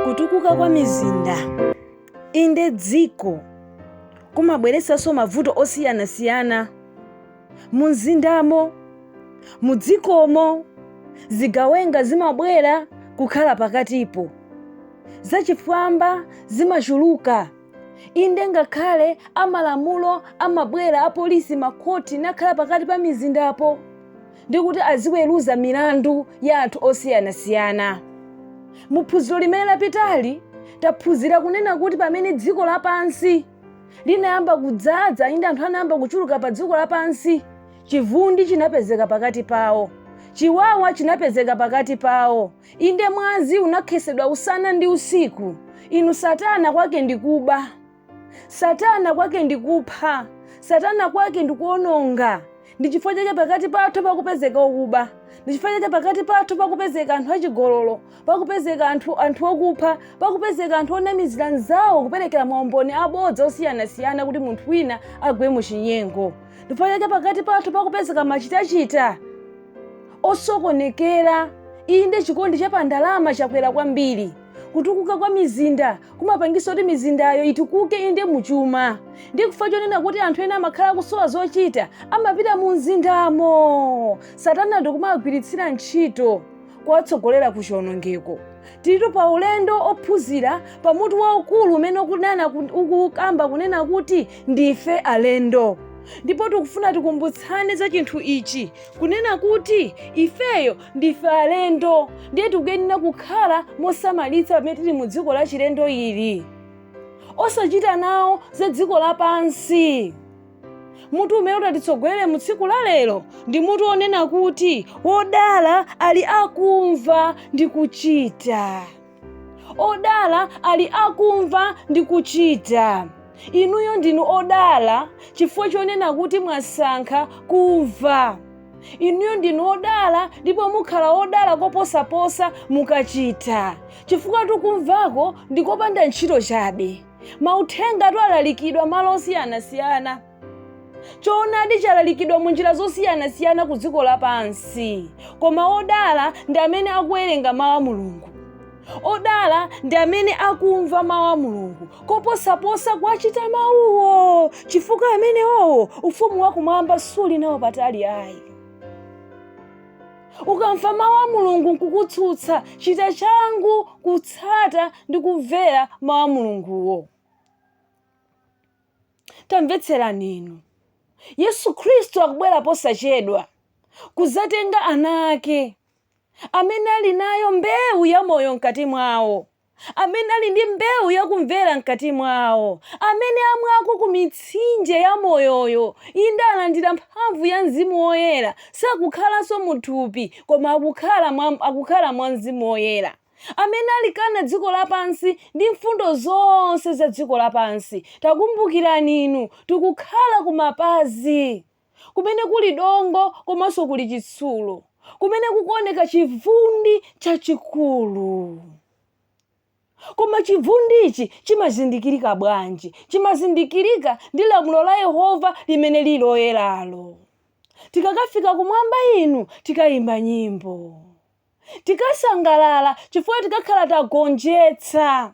kutukuka kwa mizinda inde dziko kumabweretsanso mavuto osiyanasiyana mu mzindamo mu dzikomo zigawenga zimabwera kukhala pakatipo zachifwamba zimachuluka inde ngakhale amalamulo amabwera apolisi makhoti nakhala pakati pa mizindapo ndi kuti aziweruza milandu ya anthu osiyanasiyana mu phunziro limene lapitali taphunzira kunena kuti pamene dziko lapansi linayamba kudzadza inde anthu anayamba kuchuluka pa dziko lapansi chivundi chinapezeka pakati pawo chiwawa chinapezeka pakati pawo Inde, mwazi unakhesedwa usana ndi usiku. Inu, Satana kwake ndi kuba. Satana kwake ndi kupha. Satana kwake ndi kuononga. Ndi chifukwa chake pakati pathu pakupezeka okuba. Ndi chifukwa chake pakati pathu pakupezeka anthu achigololo, pakupezeka anthu okupha, pakupezeka anthu onamizira anzawo kuperekera maumboni abodza osiyanasiyana kuti munthu wina agwe mu chinyengo. Ndi chifukwa chake pakati pathu pakupezeka machitachita osokonekera inde chikondi cha pandalama chakwera kwambiri kutukuka kwa mizinda kumapangisa kuti mizindayo itukuke inde muchuma ndi chifukwa chonena kuti anthu ena amakhala akusowa zochita amapita mu mzindamo satana ndikumawagwiritsira ntchito kuwatsogolera ku chionongeko tilitu pa ulendo ophunzira pa mutu waukulu umene ukunena ku- ukukamba kunena kuti ndife alendo ndipo tikufuna tikumbutsane za chinthu ichi kunena kuti ifeyo ndife alendo ndiye tikuyenera kukhala mosamalitsa pamene tili mu dziko la chilendo ili osachita nawo za dziko lapansi mutu umene utatitsogolere mu tsiku la lero ndi mutu wonena kuti wodala ali akumva ndi kuchita odala ali akumva ndi kuchita inuyo ndinu odala chifukwa chonena kuti mwasankha kumva inuyo ndinu odala ndipo mukhala odala koposaposa mukachita chifukwa tu kumvako ndikopanda ntchito chabe mauthengatu alalikidwa malo osiyanasiyana choonadi chalalikidwa mu njira zosiyanasiyana ku dziko lapansi koma odala ndi amene akuwerenga mawu a mulungu odala ndi amene akumva mawu a mulungu koposaposa kuwachita mawuwo chifukwa amenewowo ufumu wakumwamba suli nawo patali ayi ukamva mawu a mulungu nkukutsutsa chita changu kutsata ndi kumvera mawu a mulunguwo tamvetserani inu yesu khristu akubwera posachedwa kudzatenga ana ake amene ali nayo mbewu ya moyo mkati mwawo amene ali ndi mbewu ya kumvera mkati mwawo, amene amwako ku mitsinje ya moyoyo, inde, alandira mphamvu ya Mzimu Woyera, sakukhalanso mu thupi, koma akukhala mwa, akukhala mwa Mzimu Woyera, amene alikana dziko lapansi ndi mfundo zonse za dziko lapansi. Takumbukirani inu, tikukhala ku mapazi. kumene kuli dongo komanso kuli chitsulo, kumene kukuoneka chivundi chachikulu. Koma chivundichi chimazindikirika bwanji? Chimazindikirika ndi lamulo la Yehova limene lili loyeralo. Tikakafika kumwamba inu tikayimba nyimbo, tikasangalala chifukwa tikakhala tagonjetsa.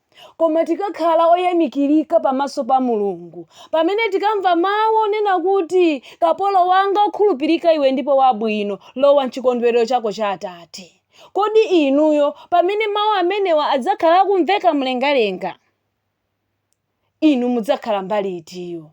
Koma tikakhala oyamikirika pamaso pa Mulungu pamene tikamva mawu onena kuti, Kapolo wanga wokhulupirika iwe ndipo wabwino, lowa m'chikondwerero chako cha Atate. Kodi inuyo pamene mawu amenewa adzakhala akumveka mlengalenga, inu mudzakhala mbali itiyo?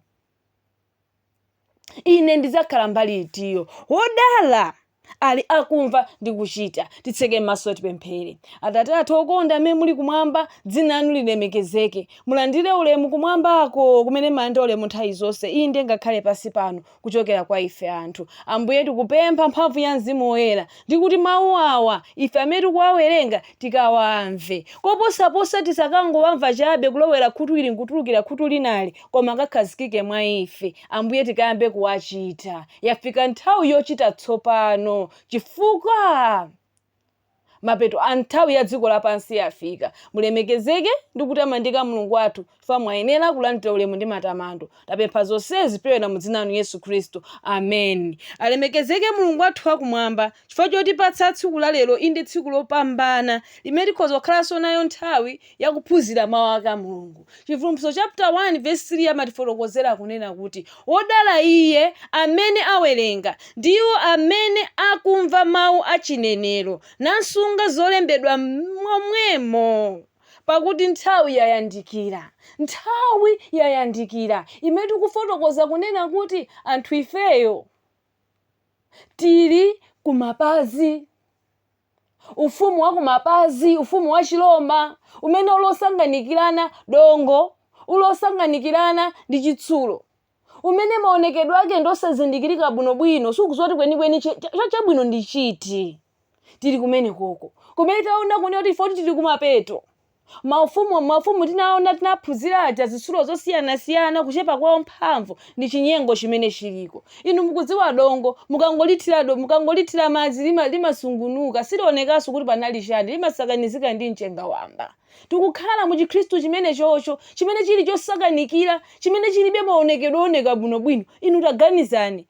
ine ndidzakhala mbali itiyo wodala ali akumva ndi kuchita titseke mmaso tipemphere atate athu okonda amene muli kumwamba dzina lanu lilemekezeke mulandire ulemu kumwambako kumene mumalandira ulemu nthawi zonse inde ngakhale pansi pano kuchokera kwa ife anthu ambuye tikupempha mphamvu ya mzimu woyera ndi kuti mawu awa ife amene tikuwawerenga tikawamve koposaposa tisakangowamva chabe kulowera khutu ili nkutulukira khutu linali koma akakhazikike mwa ife, Ambuye, tikayambe kuwachita. Yafika nthawi yochita tsopano, chifukwa mapeto a nthawi ya dziko lapansi yafika. Mulemekezeke ndi kutamandika Mulungu wathu, chifukwa mwayenera kulandira ulemu ndi matamando. Tapempha zonsezi kupyolera mu dzina lanu Yesu Khristu. Amen. Alemekezeke Mulungu wathu wa kumwamba chifukwa chotipatsa tsiku la lero, inde tsiku lopambana limene tikhoza kukhalanso nayo nthawi ya kuphunzira Mawu ake a Mulungu. Chivumbulutso chapter 1 verse 3 amatifotokozera kunena kuti, Wodala iye amene awerenga, ndi iwo amene akumva mawu a chinenero, nasunga zolembedwa momwemo, pakuti nthawi yayandikira. Nthawi yayandikira imene tikufotokoza kunena kuti anthu ifeyo tili kumapazi. ufumu wa kumapazi, ufumu wa Chiroma, umene uli osanganikirana, dongo, uli osanganikirana ndi chitsulo, umene maonekedwe ake ndi osazindikirika bwinobwino, sukudziwa kuti kwenikweni che- cha- cha- chabwino ndi chiti. Tili kumenekoko. Kumene taona kunena kuti ife tili kumapeto. Maufumu, maufumu tinaona, tinaphunzira aja, zitsulo zosiyanasiyana, kuchepa kwa mphamvu, ndi chinyengo chimene chiliko. Inu mukudziwa dongo, mukangolithira, mukangolithira madzi, lima, limasungunuka, silionekanso kuti panali chiyani, limasakanizika ndi mchenga wamba. Tikukhala mu Chikhristu chimenechocho, chimene chili chosakanikira, chimene chilibe maonekedwe ooneka bwinobwino. Inu taganizani,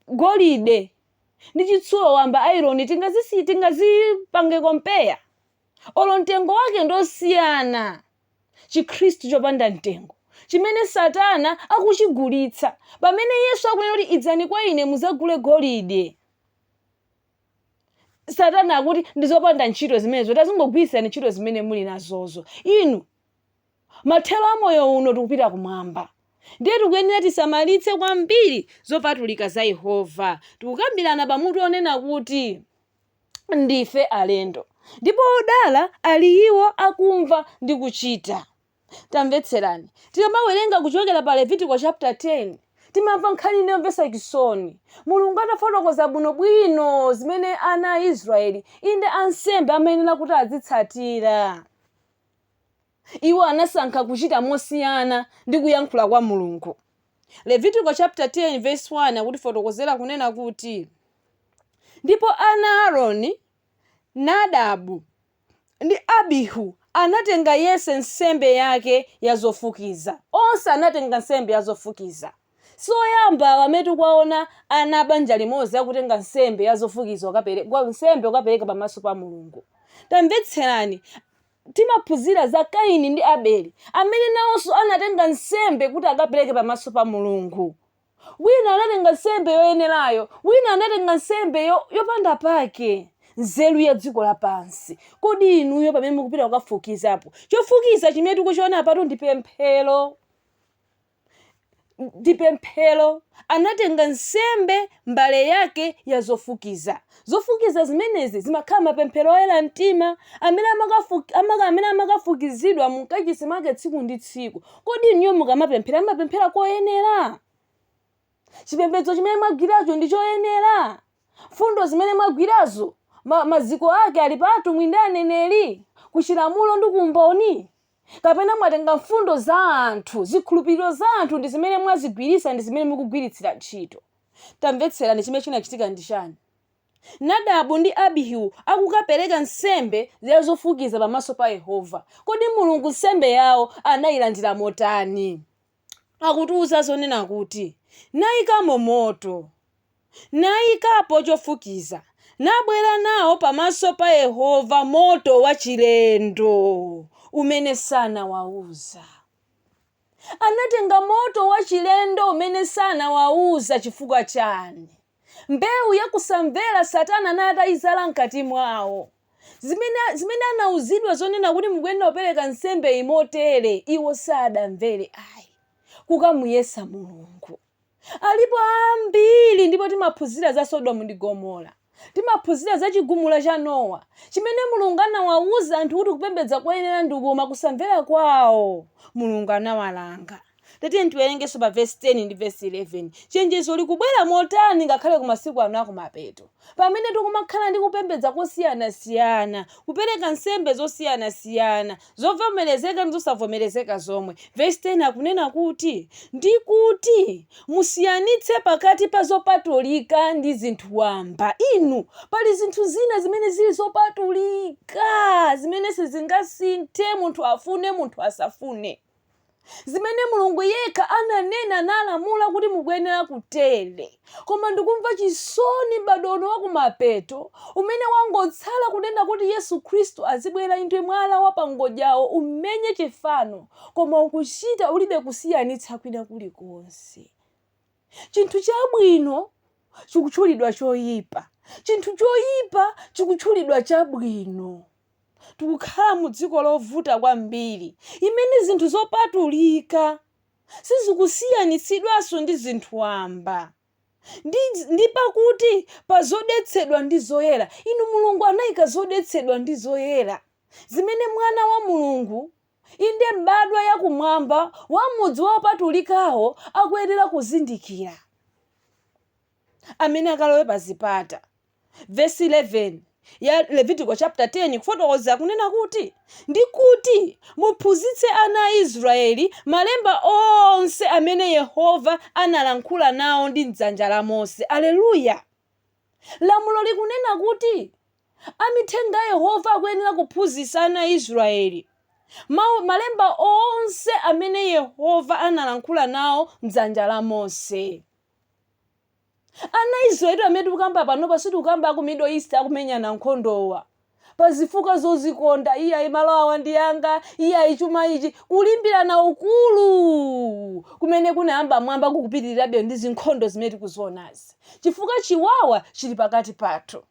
golide ndi chitsulo wamba, iron, tingazisiye, tingazipange compare? olo mtengo wake ndi osiyana, Chikhristu chopanda mtengo, chimene Satana akuchigulitsa, pamene Yesu akunena kuti idzani kwa ine mudzagule golide, Satana akuti ndi zopanda ntchito zimenezo, tazingogwiritsirani ntchito zimene muli nazozo, inu mathero a moyo uno tikupita kumwamba. Ndiye tikuyenera tisamalitse kwambiri zopatulika za Yehova. Tikukambirana pa mutu onena kuti. ndife alendo, ndipo odala ali iwo akumva ndi kuchita. Tamvetserani, tikamawerenga kuchokera pa Levitiko chapter 10, timamva nkhani ina yomvetsa chisoni. Mulungu atafotokoza bwinobwino zimene ana a Israeli, inde ansembe amayenera kuti azitsatira. Iwo anasankha kuchita mosiyana ndi kuyankhula kwa Mulungu. Levitiko chapter 10 verse 1 akutifotokozera kunena kuti, Ndipo ana a Aroni, Nadabu, ndi Abihu anatenga yense nsembe yake ya zofukiza. Onse anatenga nsembe ya zofukiza. Si oyamba awa amene tikuwaona ana a banja limodzi akutenga nsembe ya zofukiza, nsembe kukapereka pamaso pa Mulungu. Tamvetserani, Timaphunzira za Kaini ndi Abeli, amene nawonso anatenga nsembe kuti akapereke pamaso pa Mulungu. Wina anatenga nsembe yoyenerayo, wina anatenga nsembe yopanda pake. Nzeru ya dziko lapansi. Kodi inuyo pamene mukupita kukafukizapo, chofukiza chimene tikuchiona apatu ndi pemphero. ndi pemphero, anatenga nsembe, mbale yake ya zofukiza. Zofukiza zimenezi zimakhala mapemphero oyera mtima amene amakafu- amaka- amene amakafukizidwa mu mkachisi mwake tsiku ndi tsiku. Kodi inuyo mukamapemphera, mumapemphera koyenera? Chipembedzo chimene mwagwiracho ndi choyenera? Mfundo zimene mwagwirazo ma- maziko ake ali pa atumwi ndi aneneri, ku chilamulo ndi ku umboni? kapena mwatenga mfundo za anthu, zikhulupiriro za anthu ndi zimene mwazigwiritsa ndi zimene mukugwiritsira ntchito. Tamvetserani chimene chinachitika ndi chani? Nadabu ndi Abihu akukapereka nsembe ya zofukiza pamaso pa Yehova. Kodi Mulungu nsembe yawo anayilandira motani? akutiuza zonena kuti, Naikamo moto, naikapo chofukiza, nabwera nawo pamaso pa Yehova moto wachilendo umene sanawauza. Anatenga moto wachilendo umene sanawauza chifukwa chani? mbewu ya kusamvera Satana anali atayizala mkati mwawo. Zimene anauzidwa zonena kuti mukuyenera kupereka nsembe iyi motere, iwo sadamvere ayi. Kukamuyesa Mulungu. Alipo ambiri ndipo timaphunzira za Sodomu ndi Gomora. Timaphunzira za chigumula cha Nowa, chimene Mulungu anawauza anthu kuti kupembedza koyenera ndi koma kusamvera kwawo, Mulungu anawalanga. Tatiyeni tiwerengenso pa vesi 10 ndi vesi 11. Chenjezo likubwera motani ngakhale ku masiku ano a kumapeto? Pamene tikumakhala ndi kupembedza kosiyanasiyana, kupereka nsembe zosiyanasiyana, zovomerezeka ndi zosavomerezeka zomwe. Vesi 10 akunena kuti, Ndi kuti musiyanitse pakati pa zopatulika ndi zinthu wamba. Inu, pali zinthu zina zimene zili zopatulika, zimene sizingasinthe, munthu afune, munthu asafune. zimene Mulungu yekha ananena nalamula kuti mukuyenera kutere. Koma ndikumva chisoni m'badwo uno wakumapeto umene wangotsala kunena kuti Yesu Khristu azibwera inde mwala wa pangodyawo umenye chifano koma ukuchita ulibe kusiyanitsa kwina kulikonse. Chinthu chabwino chikutchulidwa choyipa, chinthu choyipa chikutchulidwa chabwino. Tikukhala mu dziko lovuta kwambiri imene zinthu zopatulika sizikusiyanitsidwanso ndi zinthu wamba. Ndi pakati pa zodetsedwa ndi zoyera, inu Mulungu anayika zodetsedwa ndi zoyera zimene Mwana wa Mulungu Inde, mbadwa ya kumwamba wa m'mudzi wa opatulikawo akuyenera kuzindikira amene akalowe pazipata. Vesi 11 ya Levitiko chaputala 10 ikufotokoza kunena kuti, Ndi kuti muphunzitse ana a Israyeli malemba onse amene Yehova analankhula nawo ndi m'dzanja la Mose. Aleluya! Lamulo likunena kuti Amithenga a Yehova akuyenera kuphunzitsa ana a Israyeli Malemba onse amene Yehova analankhula nawo mdzanja la Mose. Ana a Israyeli amene tikukamba panopa sitikukamba aku Middle East akumenyana nkhondowa pa zifukwa zozikonda, iyayi malo awa ndi anga, iyayi chuma ichi, kulimbirana ukulu kumene kunayamba mmwamba kukupitirirabe, ndi zinkhondo zimene tikuzionazi chifukwa chiwawa chili pakati pathu.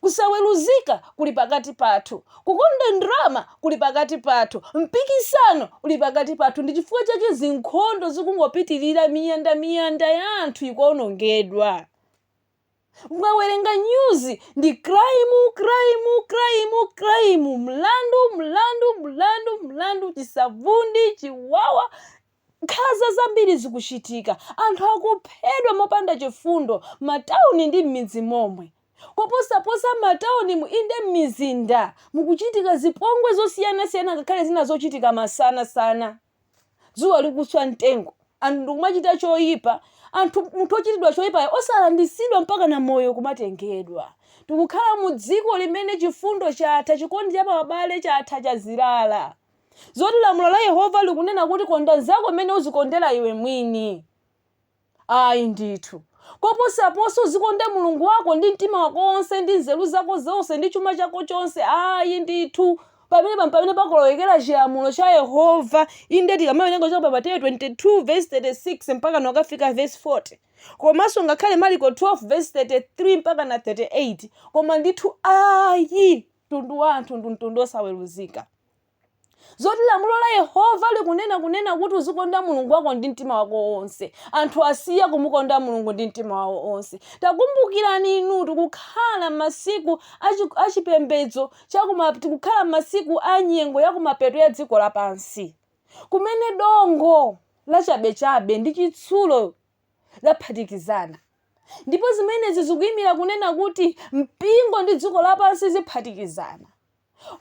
Kusaweruzika kuli pakati pathu. Kukonda ndalama kuli pakati pathu. Mpikisano uli pakati pathu. Ndi chifukwa chake zinkhondo zikungopitirira, miyanda miyanda ya anthu ikuonongedwa. Mukawerenga nyuzi, ndi crime, crime, crime, crime, mlandu, mlandu, mlandu, mlandu, chisavundi, chiwawa, Nkhanza zambiri zikuchitika, anthu akuphedwa mopanda chifundo m'matauni ndi m'midzi momwe. Koposaposa m'mataunimu, inde m'mizinda, mukuchitika zipongwe zosiyanasiyana ngakhale zina zochitika masanasana, dzuwa likuswa mtengo, anthu ndi kumachita choipa, anthu, munthu wochitidwa choipayo osalanditsidwa mpakana moyo kumatengedwa. Tikukhala mu dziko limene chifundo chatha, chikondi cha pa abale chatha, chazirala. Zoti lamulo la Yehova likunena kuti konda mnzako mmene uzikondera iwe mwini. Ayi ndithu. Koposaponso uzikonde Mulungu wako ndi mtima wako wonse, ndi nzeru zako zonse, ndi chuma chako chonse. Ayi ndithu. Pamenepa mpamene pakulowekera chilamulo cha Yehova. Inde tikamawerenga kuchoka pa Mateyu 22:36 mpakana kafika vesi 40, komanso ngakhale Maliko 12:33 mpakana 38, koma ndithu ayi, mtundu wa anthu ndi mtundu wosaweruzika. zoti lamulo la yehova likunena kunena kuti uzikonda mulungu wako ndi mtima wako wonse anthu asiya kumukonda mulungu ndi mtima wawo wonse takumbukirani inu tikukhala masiku achi- achipembedzo chakuma tikukhala masiku a nyengo yakumapeto ya dziko lapansi kumene dongo lachabechabe ndi chitsulo zaphatikizana ndipo zimenezi zikuyimira kunena kuti mpingo ndi dziko lapansi ziphatikizana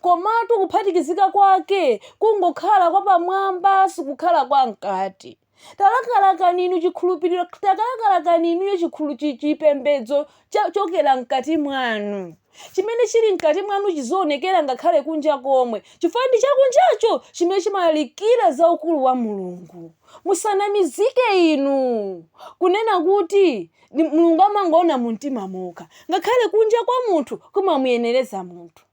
Komatu kuphatikizika kwake kungokhala kwa pamwamba sikukhala kwa mkati. Talakalakani inu chikhulupiriro, takalakalakani inuyo chikhulu chi- chipembedzo chochokera mkati mwanu. Chimene chili mkati mwanu chizionekera ngakhale kunja komwe, chifukwa ndi chakunjacho chimene chimalalikira za ukulu wa Mulungu. Musanamizike inu kunena kuti Ndi- mulungu amangoona mu mtima mokha ngakhale kunja kwa munthu kumamuyenereza munthu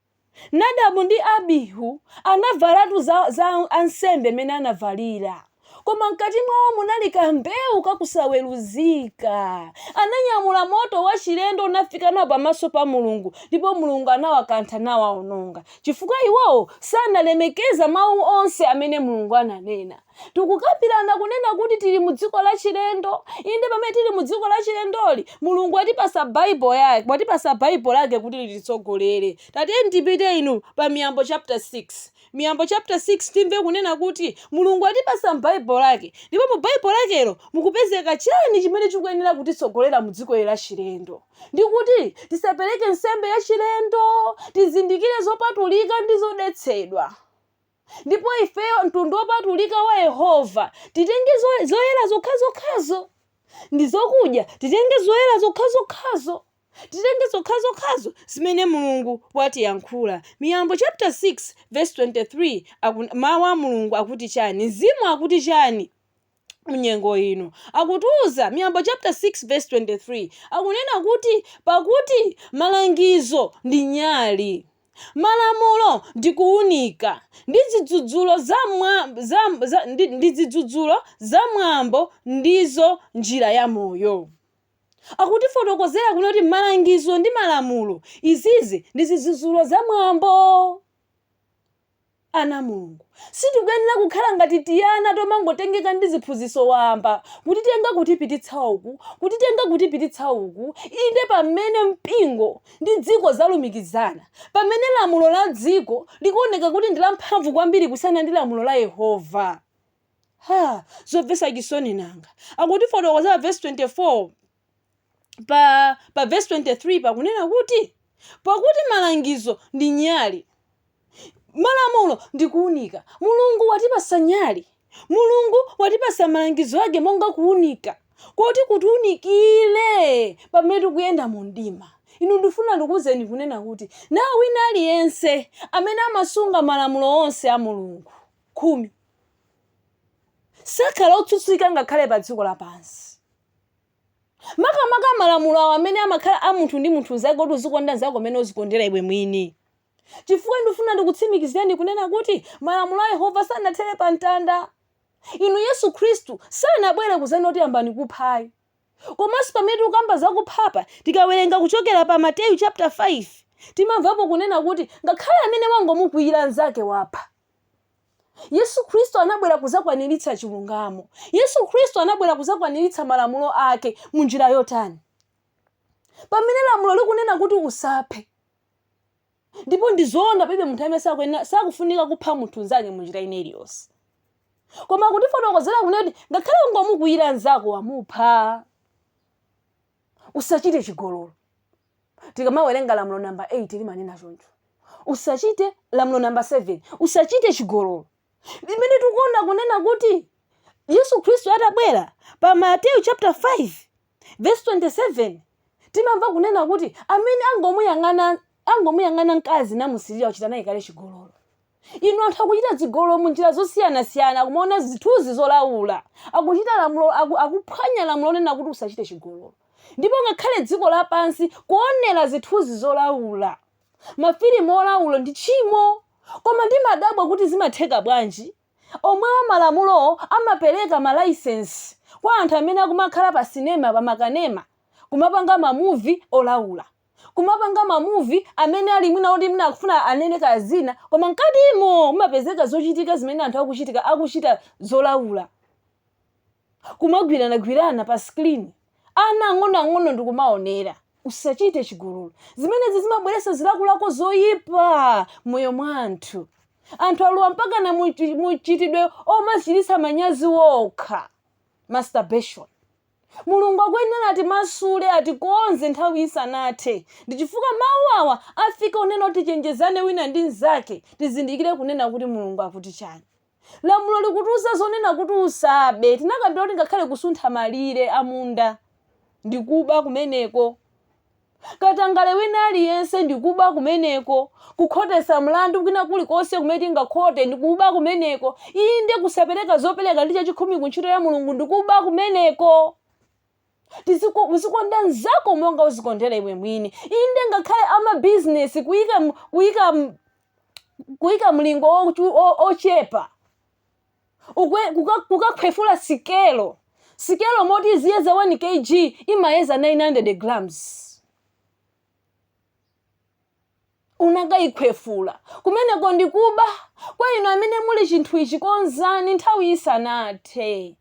nadabu ndi abihu anavalatu za, za ansembe amene anavalira koma mkati mwawo munali kambewu kakusaweruzika ananyamula moto wachilendo nafika nawo pamaso pa mulungu ndipo mulungu anawakantha nawaononga chifukwa iwowo sanalemekeza mawu onse amene mulungu ananena Tikukambirana kunena kuti tili mu dziko lachilendo. Inde, pamene tili mu dziko lachilendoli, Mulungu watipatsa Bible ya- watipatsa Bible lake kuti lititsogolere. Tatiyeni tipite inu pa Miyambo chapter 6. Miyambo chapter 6 timve kunena kuti Mulungu watipatsa Bible lake. Ndipo mu Bible lakelo mukupezeka chani chimene chikuyenera kutitsogolera mu dzikoli lachilendo. Ndi kuti tisapereke nsembe yachilendo, tizindikire zopatulika ndi zodetsedwa. Ndipo ifeyo, mtundu wopatulika wa Yehova, titenge zo- zoyera zokhazokhazo. Ndi zokudya, titenge zoyera zokhazokhazo. Titenge zokhazokhazo zimene Mulungu watiyankhula. Miyambo chapter 6 vesi 23 aku- Mawu a Mulungu akuti chani? Mzimu akuti chani? mnyengo ino akutiuza miyambo chapter 6 verse 23 akunena kuti pakuti malangizo ndi nyali malamulo ndi kuunika ndi zidzudzulo za, mwa, za, za, ndi, ndi zidzudzulo za mwambo ndizo njira ya moyo akutifotokozera kunena kuti malangizo ndi malamulo izizi ndi zidzudzulo za mwambo Ana a Mulungu, sitikuyenera kukhala ngati tiana tomangotengeka ndi ziphunzitso wamba, kutitenga kutipititsa uku, kutitenga kutipititsa uku, inde, pamene mpingo ndi dziko zalumikizana, pamene lamulo la dziko likuoneka kuti ndi lamphamvu kwambiri kusiyana ndi lamulo la Yehova. Ha, zomvetsa chisoni nanga! Akutifotokozera vesi 24. pa pa verse 23 pakunena kuti pakuti malangizo ndi nyali malamulo ndi kuunika mulungu watipasa nyali mulungu watipasa malangizo ake monga kuunika koti kutiunikire pamene tikuyenda mu mdima inu ndifuna ndikuwuzeni kunena kuti naye wina aliyense amene amasunga malamulo onse a mulungu khumi sakhala otsutsika ngakhale pa dziko lapansi Makamaka malamulo awo amene amakhala a munthu ndi munthu mzake oti uzikonda mzako mmene uzikondera iwe mwini. Chifukwa ndifuna ndikutsimikizireni kunena kuti malamulo a Yehova sanathere pa mtanda. Inu Yesu Khristu sanabwere kuzanena kuti yambani kupha ayi. Komanso pamene tikukamba za kupha apa tikawerenga kuchokera pa Mateyu chapter 5 timamvapo kunena kuti ngakhale amene wangomukwiyira mzake wapha. Yesu Khristu anabwera kudzakwaniritsa chilungamo. Yesu Khristu anabwera kudzakwaniritsa malamulo ake mu njira yotani? Pamene lamulo likunena kuti usaphe, ndipo ndi zoona palibe munthu amene sakufunika kupha munthu mnzake mu njira ina iliyonse. Koma akutifotokozera kunena kuti ngakhale ungomukwiyira mnzako wamupha. Usachite chigololo. Tikamawerenga lamulo namba 8 limanena choncho. Usachite lamulo namba 7, usachite chigololo. Limene tikuona kunena kuti Yesu Khristu atabwera pa Mateyu chapter 5 verse 27 timamva kunena kuti amene angomuyang'ana angomuyang'ana mkazi namusirira wachita naye kale chigololo. Inu anthu akuchita zigololo mu njira zosiyanasiyana, kumaona zithunzi zolaula, akuchita lamulo, aku, akuphwanya lamulo lonena kuti usachite chigololo, ndipo ngakhale dziko lapansi kuonera zithunzi zolaula, mafilimu olaula ndi tchimo. Koma ndimadabwa kuti zimatheka bwanji omwewo malamulo amapereka ma license kwa anthu amene akumakhala pa cinema, pa makanema, kumapanga ma movie olaula. kumapanga ma movie amene ali mwina oti mwina akufuna anene kaya zina koma mkatimo mumapezeka zochitika zimene anthu akuchitika akuchita zolaula kumagwiranagwirana pa screen ana ang'onoang'ono ndikumaonera usachite chigololo zimenezi zimabweretsa zilakolako zoyipa m'moyo mwa anthu anthu alowa mpakana muchi- muchitidwe omadzichiritsa manyazi okha masturbation Mulungu akuyenera atimasule, atikonze nthawi isanathe. Ndi chifukwa Mawu awa afika kunena kuti tichenjezane wina ndi mzake, tizindikire kunena kuti Mulungu akuti chani. Lamulo likutiuza zonena kuti usabe, tinakambira kuti ngakhale kusuntha malire a munda ndi kuba kumeneko. katangale wina aliyense ndi kuba kumeneko, kukhotesa mlandu kwina kulikonse kumene tingakhote ndi kuba kumeneko, inde, kusapereka zopereka ndi chachikhumi ku ntchito ya Mulungu ndi kuba kumeneko. Tiziko, uzikonda mnzako monga uzikondera iwe mwini, inde, ngakhale amabizinesi kuyika, kuyika, kuyika mlingo wochepa ukwe- kuka- kukakhwefula sikelo sikelo m'moti iziyeza 1 kg imayeza 900 grams unakayikhwefula kumeneko ndikuba kwa inu amene muli chinthu ichi konzani nthawi isanathe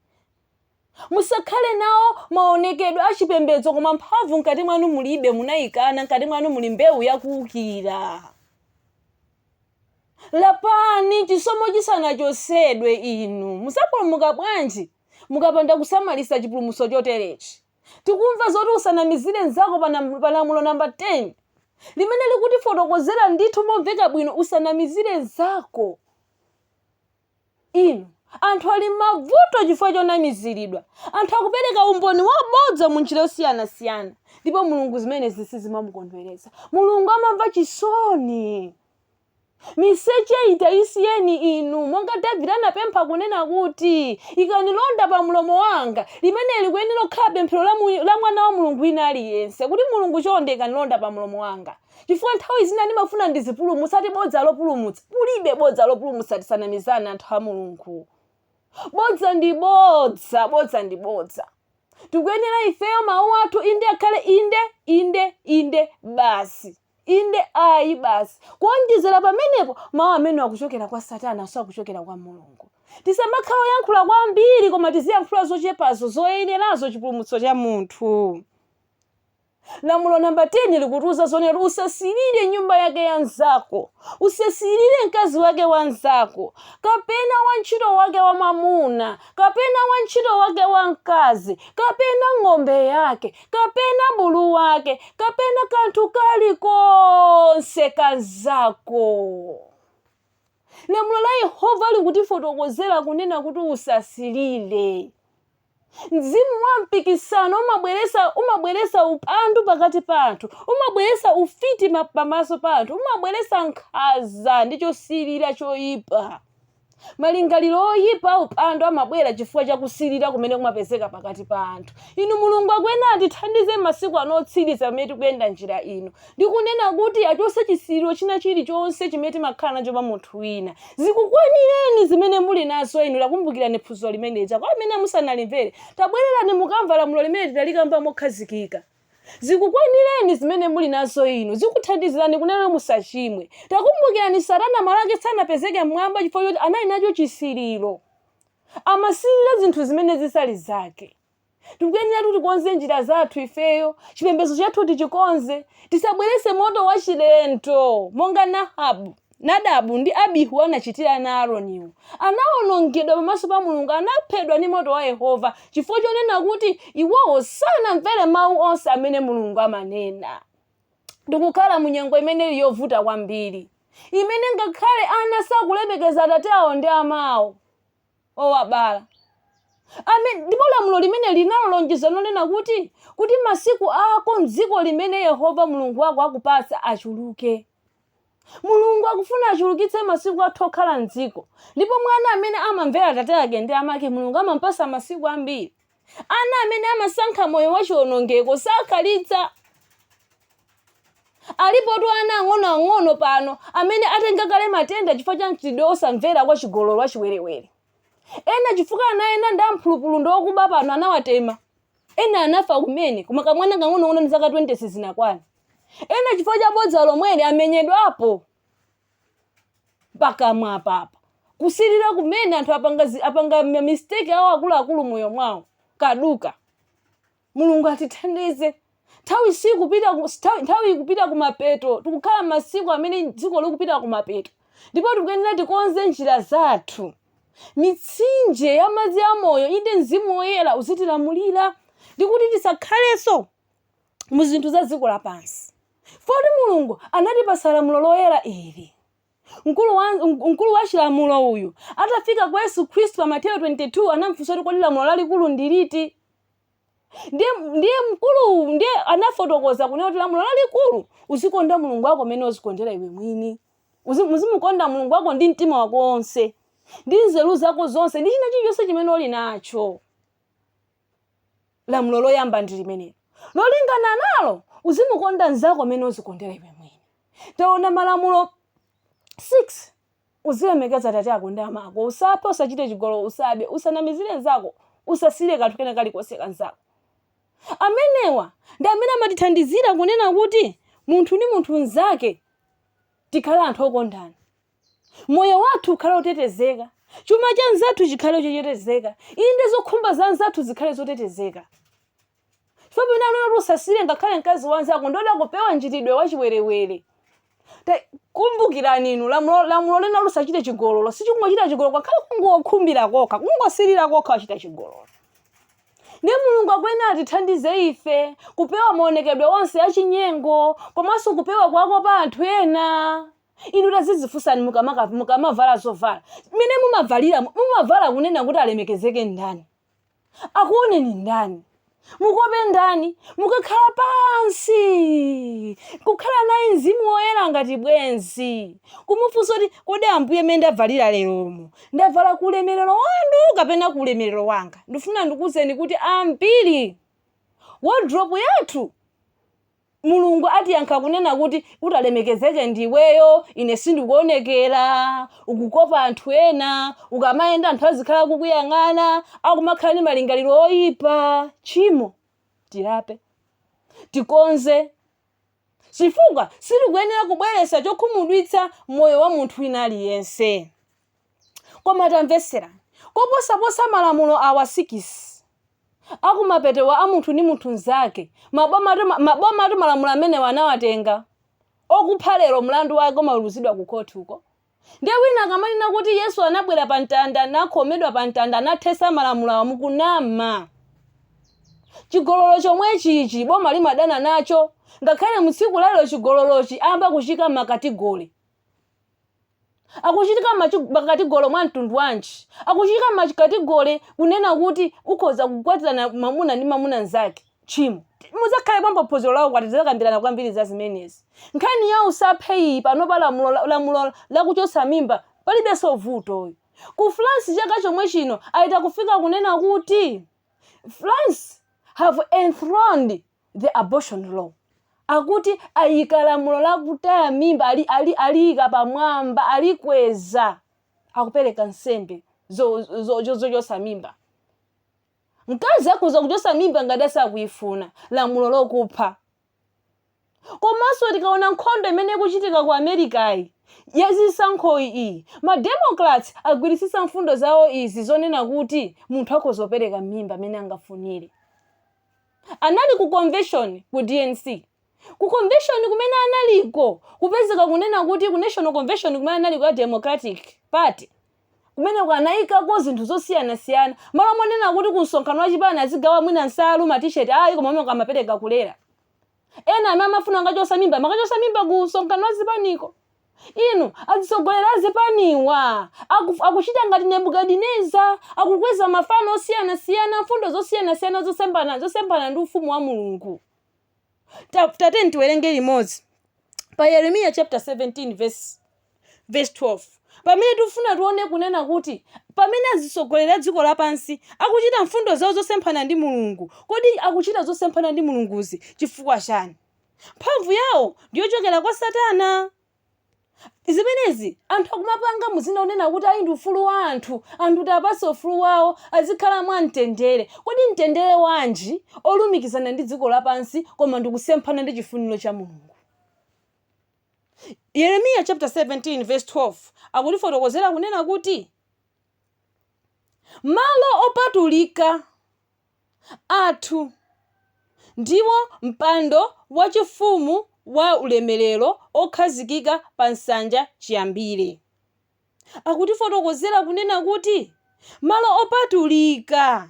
Musakhale nawo maonekedwe a chipembedzo koma mphamvu mkati mwanu mulibe, munaikana, mkati mwanu muli mbewu ya kuukira. Lapani chisomo chisanachotsedwe, inu mudzapulumuka bwanji mukapanda kusamalisa chipulumutso choterechi? Tikumva zoti usanamizire nzako pa nam- pa lamulo namba 10 limene likutifotokozera ndithu momveka bwino usanamizire nzako. Inu, anthu ali m'mavuto chifukwa chonamiziridwa. Anthu akupereka umboni wabodza mu njira yosiyanasiyana ndipo Mulungu zimenezi sizimamukondweretsa. Mulungu amamva chisoni. Miseche ija isiyeni inu, monga Davide anapempha kunena kuti, ikani londa pa mlomo wanga. Limeneli likuyenera kukhala pemphero la mwana wa Mulungu wina aliyense kuti, Mulungu chonde ikani londa pa mlomo wanga. Chifukwa nthawi zina ndimafuna ndizipulumutsati bodza lopulumutsa. Kulibe bodza lopulumutsa tisanamizane anthu a Mulungu. Bodza ndi bodza, bodza ndi bodza. Tikuyenera ifeyo mawu athu inde akhale inde, inde, inde basi. Inde ayi basi. Kuonjezera pamenepo mawu amene akuchokera kwa Satana sakuchokera kwa Mulungu. Tisamakhale oyankhula kwambiri koma tiziyankhula zochepazo zoyenerazo chipulumutso cha munthu. Lamulo namba 10 likutiuza zonena kuti usasirire nyumba yake ya mnzako, usasirire mkazi wake wa mnzako, kapena wantchito wake wamwamuna, kapena wantchito wake wamkazi, kapena ng'ombe yake, kapena bulu wake, kapena kanthu kalikonse ka mnzako. Lamulo la Yehova likutifotokozera kunena kuti usasirire. Mzimu wa mpikisano umabweresa umabweresa upandu pakati pa anthu, umabweresa ufiti pamaso pa anthu, umabweresa nkhaza ndi chosilira choipa. Malingaliro oyipa upandu amabwera chifukwa cha kusilira kumene kumapezeka pakati pa anthu. Inu Mulungu akuyenera atithandize masiku ano otsiriza pamene tikuyenda njira ino. ndi kunena kuti achotse chisiriro china chirichonse chimene timakhala nacho pa munthu wina. Zikukwanireni zimene muli nazo inu. Takumbukirani phunziro limene lija. Kwa amene musanalimvere, tabwererani mukamva lamulo limene tinalikamba mokhazikika. Zikukwanireni zimene muli nazo inu. Zikuthandizirani kunena kuti musachimwe. Takumbukirani Satana malo ake sanapezeke m'mwamba chifukwa choti anali nacho chisiriro. Amasirira zinthu zimene zisali zake. tikuyenera kuti tikonze njira zathu ifeyo chipembedzo chathu tichikonze tisabwerese moto wachilendo monga na nadabu ndi abihu anachitira ana a aroniwo anawonongedwa pamaso pa mulungu anaphedwa ndi moto wa yehova chifukwa chonena kuti iwowo sanamvere mawu onse amene mulungu amanena tikukhala mu nyengo imene ili yovuta kwambiri imene ngakhale ana sakulemekeza atate awo ndi amawo owabala. Amen. Ndipo lamulo limene linalonjeza lonena kuti kuti masiku ako m'dziko limene Yehova Mulungu wako akupatsa achuluke. Mulungu akufuna achulukitse masiku athu okhala m'dziko. Ndipo mwana amene amamvera atate ake ndi amake Mulungu amampasa masiku ambiri. Ana amene amasankha moyo wachiwonongeko sakhalitsa. Alipotu ana ang'onoang'ono pano amene atenga kale matenda chifukwa cha mchitidwe wosamvera wachigololo wachiwerewere. Ena chifukwa ana ena ndi amphulupulu ndi okuba pano anawatema. Ena anafa kumene, koma kamwana kang'onong'ono ndi zaka 20 sizinakwane. Ena chifukwa cha bodza lomweli amenyedwapo. pakamwa apapa kusilira kumene anthu apanga ma mistake awo akuluakulu moyo mwawo kaduka mulungu atithandize nthawi ikupita kumapeto tikukhala masiku amene dziko likupita kumapeto ndipo tikuyenera tikonze njira zathu mitsinje ya madzi amoyo inde mzimu woyera uzitilamulira ndikuti tisakhalenso mu zinthu za dziko lapansi. Poti Mulungu anatipatsa lamulo loyera ili. Mkulu wa, mkulu wa chilamulo uyu atafika kwa Yesu Khristu pa Mateyo 22 anamfunsa kuti kodi lamulo lalikulu ndi liti? Ndiye ndiye mkulu ndiye anafotokoza kunena kuti lamulo lalikulu uzikonda Mulungu wako mmene uzikondera iwe mwini. Uzi- Uzimukonda Mulungu wako ndi mtima wako wonse, ndi nzeru zako zonse, ndi china chilichonse chimene uli nacho. lamulo loyamba ndi limenelo lolingana nalo uzimukonda mnzako mmene uzikondera iwe mwini taona malamulo 6 uzilemekeza atate ako ndi amako usaphe usachite chigololo usabe usanamizire mnzako usasirire kanthu kena kalikonse ka mnzako amenewa ndi amene amatithandizira kunena kuti munthu ndi munthu mnzake tikhale anthu okondana Moyo wathu ukhale wotetezeka. Chuma cha mnzathu chikhale chotetezeka. Inde zokhumba za mnzathu zikhale zotetezeka. Chifukwa pamene anena kuti usasirire ngakhale mkazi wa mnzako ndi kuti akupewa mchitidwe wachiwerewere. Ta- Kumbukirani inu lamulo lamulo linena kuti usachite chigololo. Sichikungochita chigololo ngakhale kungokhumbira kokha, kungosirira kokha wachita chigololo. Ndiye Mulungu akuyenera atithandize ife kupewa maonekedwe onse achinyengo komanso kupewa kuwakopa anthu ena. Inu tazizifunsani mukamaka mukamavala zovala. Mmene mumavalira mumavala kunena kuti alemekezeke ndani? Akuoneni ndani? Mukope ndani? Mukakhala pansi kukhala naye mzimu woyera ngati bwenzi. Kumufunsa kuti kodi Ambuye mmene ndavalira leromu ndavala ku ulemerero wanu kapena ku ulemerero wanga? Ndifuna ndikuuzeni kuti ambiri wardrobe yathu Mulungu atiyankha kunena kuti utalemekezeke ndi iweyo, ine sindikuonekera, ukukopa anthu ena, ukamayenda anthu azikhala akukuyang'ana, akumakhala ndi malingaliro oyipa. Tchimo. Tilape. Tikonze. Chifukwa silikuyenera kubweretsa chokhumudwitsa moyo wa munthu wina aliyense. Koma tamvetserani. Koposaposa malamulo awa sikisi, akumapetowa a munthu ndi munthu mzake, mabomatu mabomatu malamulo amenewa anawatenga. Okupha lero mlandu wake umaweruzidwa ku court uko. Ndiye wina akamanena kuti Yesu anabwera pa mtanda, nakhomedwa pa mtanda, anathetsa malamulo awa mukunama. Chigololo chomwechi ichi boma limadana nacho, ngakhale mu tsiku la lero chigololochi ayamba kuchiika m'ma category. akuchitika ma category mwa mtundu wanji akuchitika ma category kunena kuti ukhoza kukwatirana mamuna ndi mamuna mzake tchimo muzakhalepo pa phunziro la ukwati tizakambirana kwambiri za zimenezi nkhani ya usaphe iyi panopa lamulo lamulo lakuchotsa mimba palibenso vuto ku france chaka chomwe chino ayita kufika kunena kuti france have enthroned the abortion law akuti ayika lamulo la kutaya mimba ali ali aliyika pamwamba alikweza akupereka nsembe zo- zo- zo- zochotsa mimba mkazi akhoza kuchotsa mimba ngati asakuyifuna lamulo lokupha komanso tikaona nkhondo imene ikuchitika ku americayi yazisankhoyi iyi mademocrats agwiritsitsa mfundo zawo izi zonena kuti munthu akhoza kupereka mimba mmene angafunire Anali ku convention ku DNC. Ku convention kumene analiko kupezeka kunena kuti ku national convention kumene analiko ya Democratic party kumeneko anaikako zinthu zosiyanasiyana malo monena kuti ku msonkhano wa chipani azigawa mwina nsalu ma t-shirt ayi koma kumeneko amapereka kulera. Ena amene amafuna kukachotsa mimba amakachotsa mimba ku msonkhano wa zipaniko. Inu azitsogoleri a zipaniwa aku- akuchita ngati Nebukadineza, akukweza mafano osiyanasiyana, mfundo zosiyanasiyana zosembana zosemphana ndi ufumu wa Mulungu. Ta- Tateni tiwerenge limodzi pa Yeremiya chapter 17 verse Vesi 12, Pamene tifuna tione kunena kuti pamene azitsogoleri a dziko lapansi akuchita mfundo zao zosemphana ndi Mulungu, kodi akuchita zosemphana ndi Mulunguzi chifukwa chani? Mphamvu yao ndi yochokera kwa satana? Zimenezi anthu akumapanga mu dzina lonena kuti ayi ndi ufulu wa anthu, anthu tiwapatse ufulu wao azikhala mwa mtendere. Kodi mtendere wanji olumikizana ndi dziko lapansi koma ndikusemphana ndi chifuniro cha Mulungu? Yeremiya chapter 17 verse 12 akutifotokozera kunena kuti malo opatulika athu ndiwo mpando wachifumu wa ulemerero okhazikika pa nsanja chiyambire. Akutifotokozera kunena kuti malo opatulika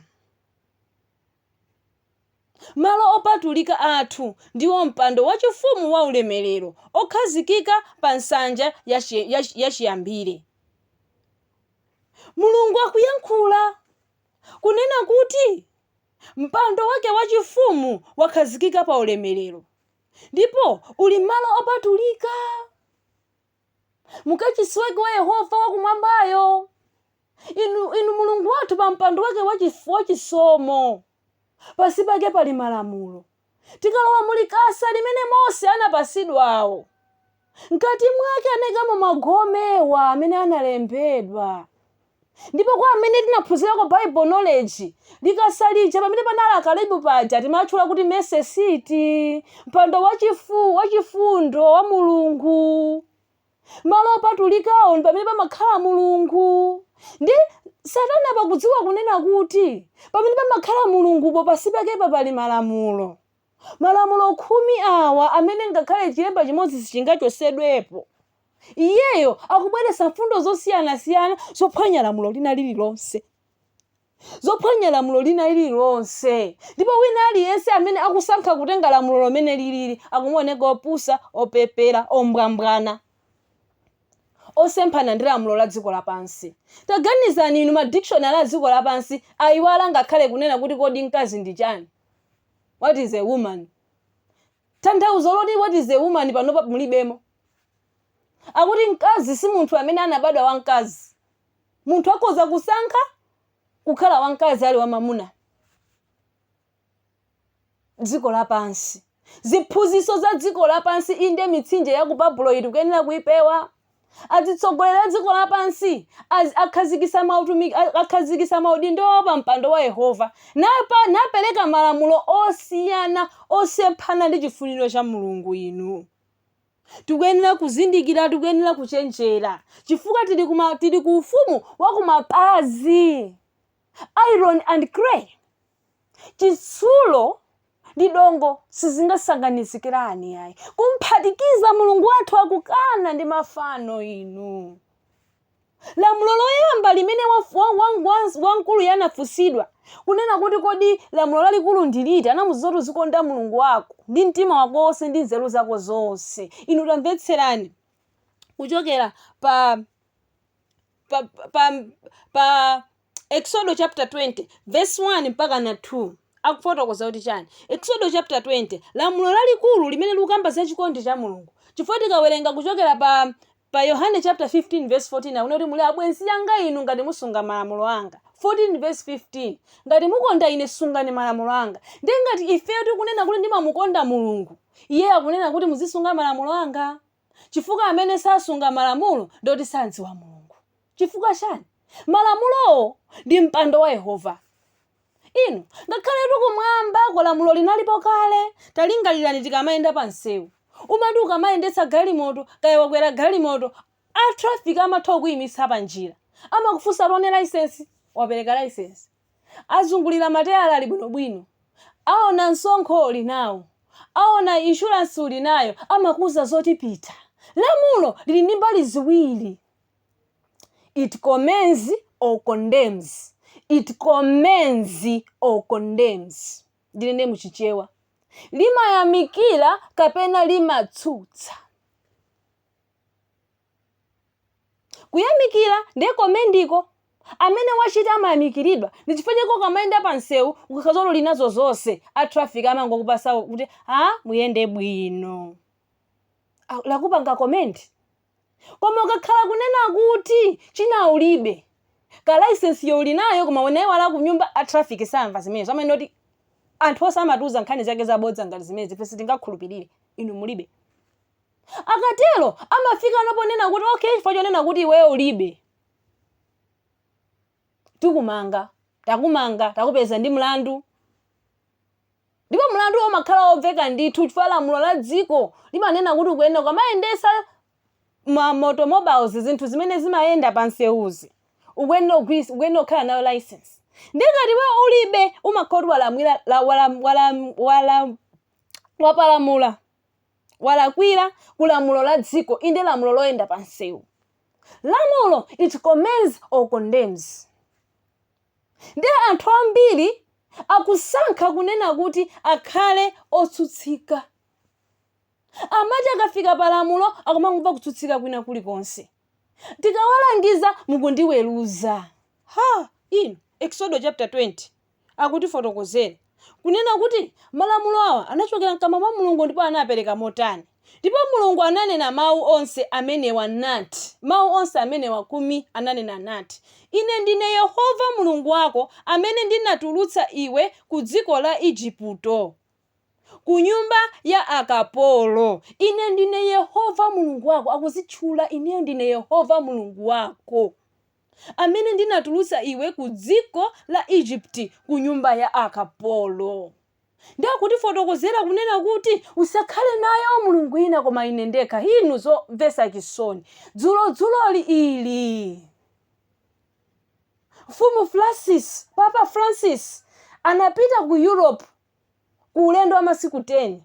Malo opatulika athu ndiwo mpando wachifumu waulemerero, okhazikika pa nsanja ya chiyambire. Mulungu akuyankhula, kunena kuti, Mpando wake wachifumu wakhazikika pa ulemerero, ndipo uli mmalo opatulika. mukachisi wake wa yehova wakumwambayo inu, inu mulungu wathu pa mpando wake wachif- wachisomo pasi pake pali malamulo tikalowa mulikasa limene mose anapasidwawo mkati mwake anayikamo magome awa amene analembedwa Ndipo kwa amene tinaphunzirako Bible Knowledge, likasa lija pamene panali akerubi paja timatchula kuti mercy seat, mpando wachifu, wachifundo wa Mulungu. Malo opatulikawo ndi pamene pamakhala Mulungu. Ndi Satana pakudziwa kunena kuti pamene pamakhala Mulungupo pansi pakepa pali malamulo. Malamulo khumi awa amene ngakhale chilemba chimodzi sichingachotsedwepo. Iyeyo akubweretsa mfundo zosiyanasiyana zophwanya lamulo lina lililonse, zophwanya lamulo lina lililonse. Ndipo wina aliyense amene akusankha kutenga lamulolo mmene lilili akumaoneka opusa, opepera, ombwambwana, osemphana ndi lamulo la dziko lapansi. Taganizani inu, madictionary a dziko lapansi ayiwala ngakhale kunena kuti kodi mkazi ndi chani? What is a woman? Tanthauzo loti what is a woman panopa mulibemo. Akuti mkazi si munthu amene anabadwa wamkazi. Munthu akhoza kusankha kukhala wamkazi ali wamamuna. Dziko lapansi. Ziphunzitso za dziko lapansi inde mitsinje ya ku Babulo iyi tikuyenera kuipewa. Adzitsogoleri a dziko lapansi az, akhazikisa mautumiki, a, akhazikisa maudindo ao pa mpando wa Yehova, napa, napereka malamulo osiyana, osemphana ndi chifuniro cha Mulungu. Inu. Tikuyenera kuzindikira, tikuyenera kuchenjera, chifukwa tili ku ma, tili ku ufumu wa ku mapazi, iron and clay. Chitsulo ndi dongo sizingasanganizikirane ayi. Kumphatikiza Mulungu wathu akukana ndi mafano inu. Lamulo loyamba limene wa- wa- wa- wa- wamkuluyo anafunsidwa kunena kuti kodi lamulo lalikulu ndi liti anamuuza kuti uzikonda mulungu wako ndi mtima wako wonse ndi nzeru zako zonse inu tamvetserani kuchokera pa pa pa, pa Eksodo chapter 20 verse 1 mpaka na 2 akufotokoza kuti chani Eksodo chapter 20 lamulo lalikulu limene likukamba za chikondi cha Mulungu chifukwa tikawerenga kuchokera pa pa Yohane chapter 15 verse 14 akunena kuti muli abwenzi anga inu ngati musunga malamulo anga 14 verse 15 ngati mukonda ine sungani malamulo anga ndiye ngati ifeyo tikunena kuti ndimamukonda Mulungu iye akunena kuti muzisunga malamulo anga chifukwa amene sasunga malamulo ndoti samdziwa Mulungu Chifukwa chani? Malamulowo ndi mpando wa Yehova. Inu, ngakhaletu kumwamba ko lamulo linalipo kale. Talingalirani tikamayenda pa msewu. Umati ukamayendetsa galimoto, kaya wakwera galimoto, a traffic amatha kukuyimitsa pa njira. Amakufunsa tione license? Wapereka license? Azungulira matayala ali bwino bwino? Aona msonkho uli nawo? Aona insurance uli nayo? Amakuuza zoti pita. Lamulo lili ndi mbali ziwiri. It commends or condemns. It commends or condemns. Ndinene mu Chichewa. Limayamikira kapena limatsutsa. Kuyamikira ndiye commend-ko. Amene wachita amayamikiridwa. Ndi chifukwa chake ukamayenda pa msewu ukakhala zoti uli nazo zonse, a traffic amangokupasa kuti, "Ah, muyende bwino." Ah, Lakupanga commend. koma ukakhala kunena kuti china ulibe kaya license yo ulinayo koma unaiwala kunyumba a traffic samva zimenezo amanena kuti anthu onse amatiuza nkhani zake zabodza ngati zimenezi, ife sitingakhulupirire inu mulibe akatero amafika no ponena kuti okay chifukwa chonena kuti iweyo ulibe tikumanga takumanga takupeza ndi mlandu Ndipo mlanduwo umakhala womveka ndithu chifukwa lamulo la dziko limanena kuti ukuyenera ukamayendetsa ma ma automobiles, zinthu zimene zimayenda pa msewuzi, ukuyenera ku, ukuyenera kukhala nayo license. Ndiye ngati iweyo ulibe, umakhala kuti wala, wapalamula, walakwira ku lamulo la dziko, inde lamulo loyenda pa msewu. Lamulo, it commends or condemns. Ndiye anthu ambiri akusankha kunena kuti akhale otsutsika. Amati akafika pa lamulo akumangomva kutsutsika kwina kulikonse. Tikawalangiza mukundiweruza. Ha! Inu, Eksodo chapter 20 akutifotokozere. kunena kuti, Malamulo awa anachokera mkamwa mwa Mulungu ndipo anapereka motani? Ndipo Mulungu ananena mawu onse amenewa nati, mawu onse amenewa kumi ananena nati, Ine ndine Yehova Mulungu wako amene ndinatulutsa iwe ku dziko la Igupto, ku nyumba ya akapolo. Ine ndine Yehova Mulungu wako, akuzitchula, Ineyo ndine Yehova Mulungu wako. amene ndinatulutsa iwe ku dziko la Egypt, ku nyumba ya akapolo. Ndiye akutifotokozera kunena kuti, Usakhale nayo milungu ina koma ine ndekha. Inu zomvetsa chisoni. Dzulo dzuloli ili. Mfumu Francis, Papa Francis anapita ku Europe ku ulendo wa masiku 10.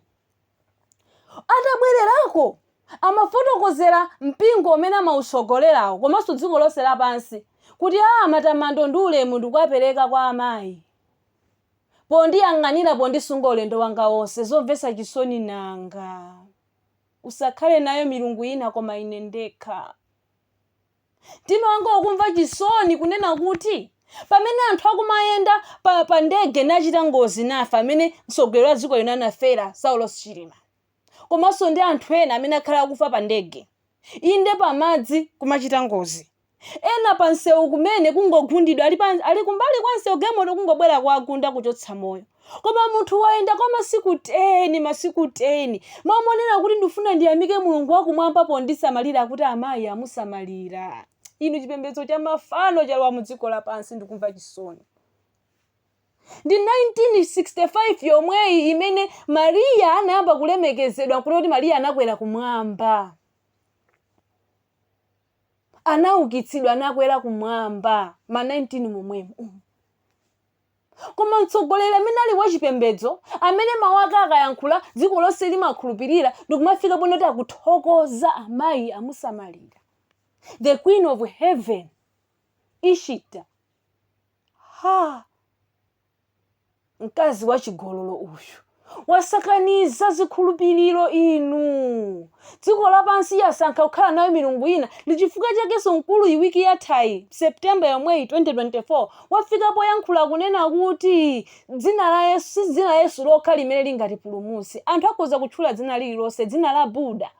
Atabwererako, amafotokozera mpingo umene amautsogolerawo komanso dziko lonse lapansi kuti, Aa, matamando ndi ulemu ndikuwapereka kwa Amayi pondiyang'anira, pondisunga ulendo wanga wonse. Zomvetsa chisoni nanga! Usakhale nayo milungu ina koma Ine ndekha. mtima wanga ukumva chisoni kunena kuti pamene anthu akumayenda pa, pa ndege nachita ngozi nafa amene mtsogoleri wa dziko lino anafera saulos chilima komanso ndi anthu ena amene akhala akufa pa ndege inde pamadzi kumachita ngozi ena pa msewu kumene kungogundidwa ali, pa, ali kumbali kwa msewu galimoto kungobwera kuwagunda kuchotsa moyo Koma munthu wayenda kwa masiku 10, masiku 10, m'malo monena kuti ndifuna ndiyamike Mulungu wa kumwamba pondisamalira akuti amayi amusamalira. Inu chipembedzo cha mafano chalowa mu dziko lapansi ndikumva chisoni. Ndi 1965 yomweyi imene Maria anayamba kulemekezedwa nkunena kuti Maria anakwera kumwamba. Anaukitsidwa anakwera kumwamba ma 19 momwemo. Koma mtsogoleri amene ali wachipembedzo, amene mawu ake akayankhula dziko lonse limakhulupirira ndikumafika ponena kuti akuthokoza amayi amusamalira. The Queen of Heaven, Ishtar. Ha! Mkazi wachigololo uyu. wasakaniza zikhulupiriro inu. Dziko lapansi yasankha kukhala nayo milungu ina ndi chifukwa chakenso mkuluyi wiki yathayi September yomweyi 2024 wafika poyankhula kunena kuti dzina la Yesu si dzina la Yesu lokha limene lingatipulumutse anthu akhoza kutchula dzina lililonse dzina la Buddha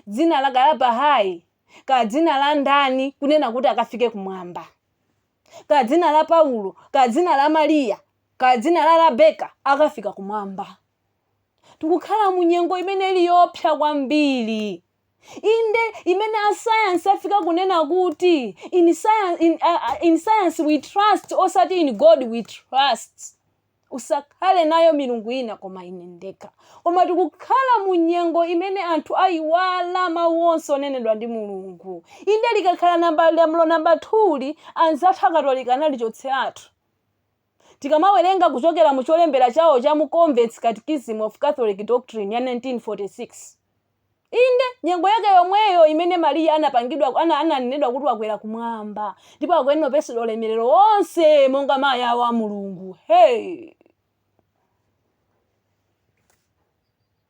dzina la kaya Bahai kaya dzina la ndani kunena kuti akafike kumwamba. kaya dzina la Paulo, kaya dzina la Mariya, kaya dzina la Rebeka akafika kumwamba. Tikukhala mu nyengo imene ili yoopsa kwambiri. Inde imene asayansi afika kunena kuti in science we trust osati in God we trust. Usakhale nayo milungu ina koma Ine ndekha. Koma tikukhala mu nyengo imene anthu ayiwala mawu onse onenedwa ndi Mulungu. Inde likakhala namba lamulo namba 2 anzathu akatolika analichotseratu. Tikamawerenga kuchokera mu cholembera chawo cha mu Convert's Catechism of Catholic Doctrine ya 1946. Inde, nyengo yake yomweyo imene Mariya anapangidwa ananenedwa kuti wakwera kumwamba ndipo akuyenera kupatsidwa ulemerero wonse monga mayi awo a Mulungu. Hey!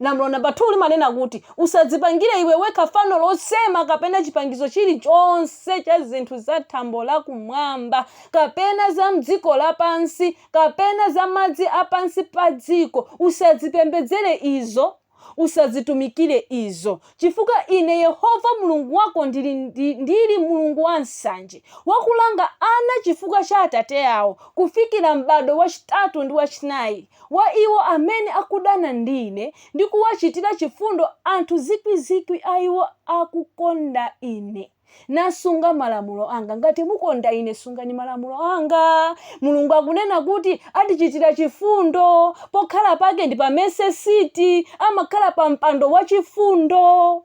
Lamulo namba 2 limanena kuti usadzipangire iwe wekha fano losema kapena chipangizo chilichonse cha zinthu za thambo la kumwamba kapena za mdziko lapansi kapena za madzi a pansi pa dziko usadzipembedzere izo Usadzitumikire izo, chifukwa Ine Yehova Mulungu wako ndili, ndi, ndili Mulungu wansanje, wakulanga ana chifukwa cha atate awo, kufikira m'bado wachitatu ndi wachinayi wa iwo amene akudana ndi Ine, ndi kuwachitira chifundo anthu zikwi zikwi a iwo akukonda Ine. nasunga malamulo anga. Ngati mukonda ine, sungani malamulo anga. Mulungu akunena kuti atichitira chifundo. Pokhala pake ndi pa Mercy Seat. Amakhala pa mpando wa chifundo.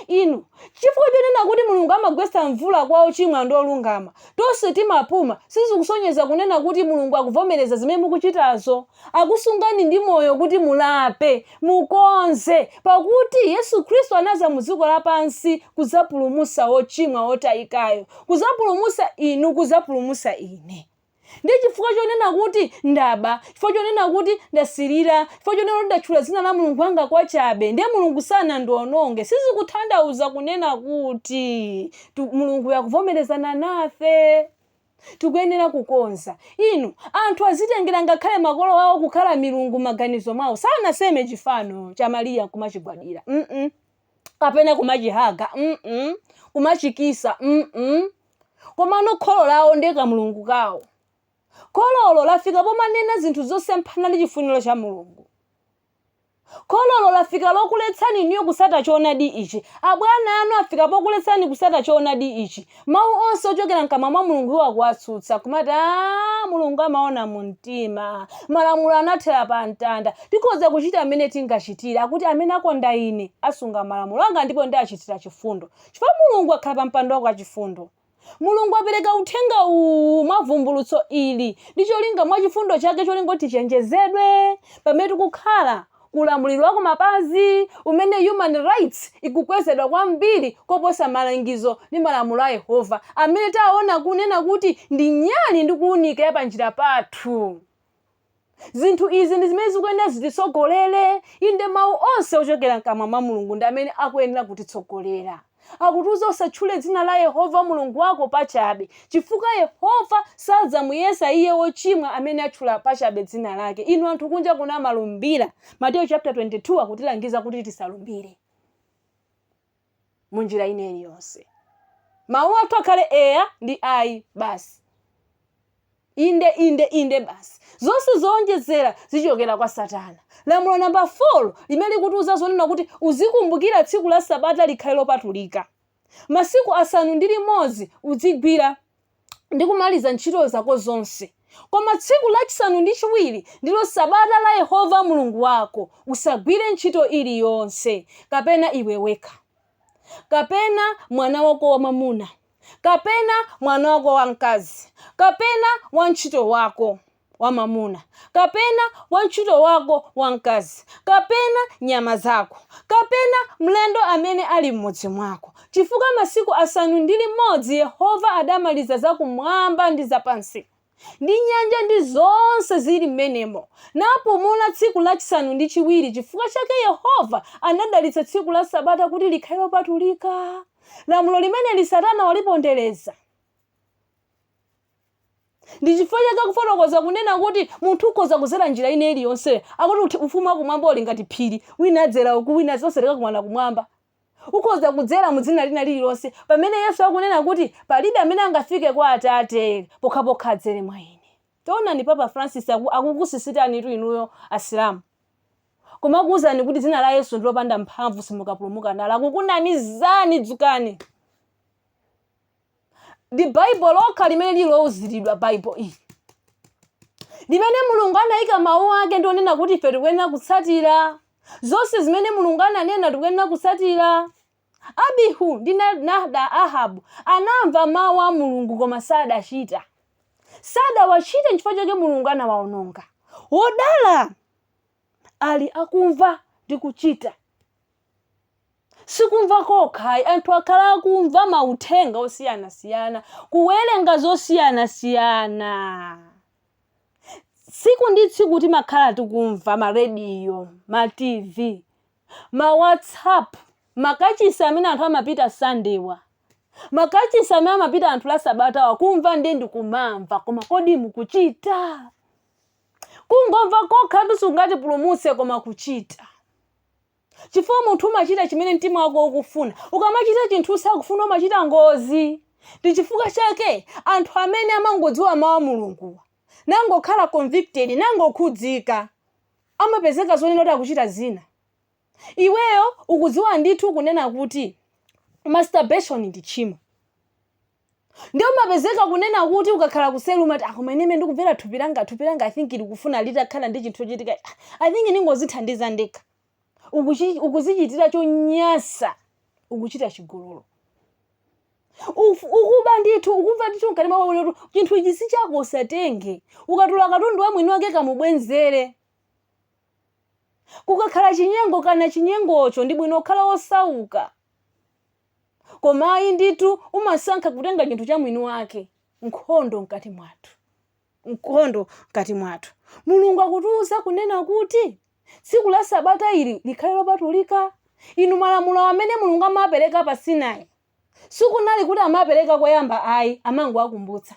Inu, chifukwa chonena kuti Mulungu amagwetsa mvula kwa ochimwa ndi olungama, tonse timapuma, sizikusonyeza kunena kuti Mulungu akuvomereza zimene mukuchitazo. Akusungani ndi moyo kuti mulape, mukonze, pakuti Yesu Khristu anaza mu dziko lapansi kuzapulumusa ochimwa otayikayo, kuzapulumusa inu, kuzapulumusa ine. Ndiye chifukwa chonena kuti ndaba, chifukwa chonena kuti ndasilira, chifukwa chonena kuti ndatchula dzina la Mulungu wanga kwachabe, ndiye Mulungu sanandiononge, sizikutanthauza kunena kuti Mulunguyo akuvomerezana nafe. Tikuyenera kukonza. Inu, anthu azitengera ngakhale makolo awo kukhala milungu m'maganizo mwawo. Sanaseme chifano cha Mariya nkumachigwadira. mm kapena kumachihaga. mm kumachikisa. mm Komano kholo lawo ndiye kamulungu kawo. Khololo lafika pomanena zinthu zosemphana ndi chifuniro cha Mulungu. Khololo lafika lokuletsani inuyo kusata choonadi ichi. Abwana anu afika pokuletsani kusata choonadi ichi. Mau onse ochokera mkamwa mwa Mulungu iwo akuwatsutsa, kumati, Aaa, Mulungu amaona mu mtima. Malamulo anathera pa mtanda. Tikhoza kuchita mmene tingachitire. Akuti, Amene akonda Ine, asunga malamulo anga ndipo ndiachitira chifundo. Chifukwa Mulungu akhala pa mpando wake wachifundo. Mulungu apereka uthenga uwu mwa vumbulutso ili ndi cholinga mwa chifundo chake cholinga kuti tichenjezedwe pamene tikukhala ku ulamuliro wa kumapazi umene human rights ikukwezedwa kwambiri koposa malangizo ndi malamulo a Yehova amene taona kunena kuti ndi nyali ndi kuunika ya panjira pathu. Zinthu izi ndi zimene zikuyenera zititsogolere. Inde, mawu onse ochokera m'kamwa mwa Mulungu ndi amene akuyenera kutitsogolera. Akutiuza, Usatchule dzina la Yehova Mulungu wako pachabe, chifukwa Yehova sadzamuyesa iye wochimwa amene atchula pachabe dzina lake. Inu anthu kunja kuno amalumbira. Mateyu chapter 22 akutilangiza kuti tisalumbire. mu njira ina iliyonse. Mawu athu akhale eya ndi ayi basi. Inde, inde, inde basi. Zonse zowonjezera zichokera kwa Satana. Lamulo namba 4 limene likutiuza zonena kuti uzikumbukira tsiku la Sabata likhale lopatulika. Masiku asanu ndi limodzi udzigwira ndi kumaliza ntchito zako zonse. Koma tsiku lachisanu ndi chiwiri ndilo Sabata la Yehova Mulungu wako, usagwire ntchito iliyonse, kapena iwe wekha, kapena mwana wako wamwamuna, kapena mwana wako wamkazi, kapena wantchito wako. wamwamuna, kapena wantchito wako wamkazi, kapena nyama zako, kapena mlendo amene ali m'mudzi mwako, chifukwa masiku asanu ndi limodzi Yehova adamaliza zakumwamba ndi zapansi, ndi nyanja ndi zonse zili m'menemo, napumula tsiku lachisanu ndi chiwiri, chifukwa chake Yehova anadalitsa tsiku la Sabata kuti likhale lopatulika. Lamulo limeneli Satana walipondereza. Ndi chifukwa chake akufotokoza kunena kuti munthu ukhoza kuzera njira ina iliyonse. Akuti uthi- ufumu wakumwamba uli ngati phiri, wina adzera uku, wina tonse tikakumana kumwamba. Ukhoza kudzera mu dzina lina lililonse, pamene Yesu akunena kuti palibe amene angafike kwa Atate pokhapokha adzere mwa ine. Taonani Papa Francis aku- akukusisitanitu inuyo Asilamu. Kumakuuzani kuti dzina la Yesu ndi lopanda mphamvu simukapulumuka nalo. Akukunamizani, dzukani! ndi baibulo lokha limene lili louziridwa baibulo ili limene mulungu anayika mawu ake ndi onena kuti ife tikuyenera kutsatira zonse zimene mulungu ananena tikuyenera kutsatira abihu ndi Na- nada ahabu anamva mawu a mulungu koma sadachita sadawachite nchifukwa chake mulungu anawaononga wodala ali akumva ndi kuchita Sikumva kokha ayi, anthu akhala akumva mauthenga osiyanasiyana, kuwerenga zosiyanasiyana. Tsiku ndi tsiku timakhala tikumva ma radio, ma TV, ma WhatsApp, makachisi amene anthu amapita Sunday'wa, makachisi amene amapita anthu la Sabatawa, kumva ndiye ndi kumamva, koma kodi mukuchita? Kungomva kokhatu sikungatipulumutse koma kuchita. chifukwa munthu umachita chimene mtima wako ukufuna ukamachita chinthu usakufuna umachita ngozi ndi chifukwa chake anthu amene amangodziwa mawu a mulunguwa nangokhala convicted nangokhudzika amapezeka zonena kuti akuchita zina iweyo ukudziwa ndithu kunena kuti masturbation ndi tchimo ndiye umapezeka kunena kuti ukakhala kuseli umati ah, koma ineme ndikumvera thupi langa thupi langa i think likufuna litakhala ndi chinthu chochitika Ah, i think ndingozithandiza ndekha Ukuchi- ukuzichitira chonyasa ukuchita chigololo Uf- ukuba ndithu ukumva ndithu mkati mwa iwe chinthu ichi si chako usatenge ukatula katundu wa mwini wake kamubwenzere kukakhala chinyengo kana chinyengocho ndi bwino kukhala wosauka koma ayi ndithu umasankha kutenga chinthu cha mwini wake nkhondo mkati mwathu nkhondo mkati mwathu mulungu akutiuza kunena kuti tsiku la sabata ili likhale lopatulika inu malamulo amene mulungu amapereka pa sinai sikunali kuti amapereka koyamba ayi amangowakumbutsa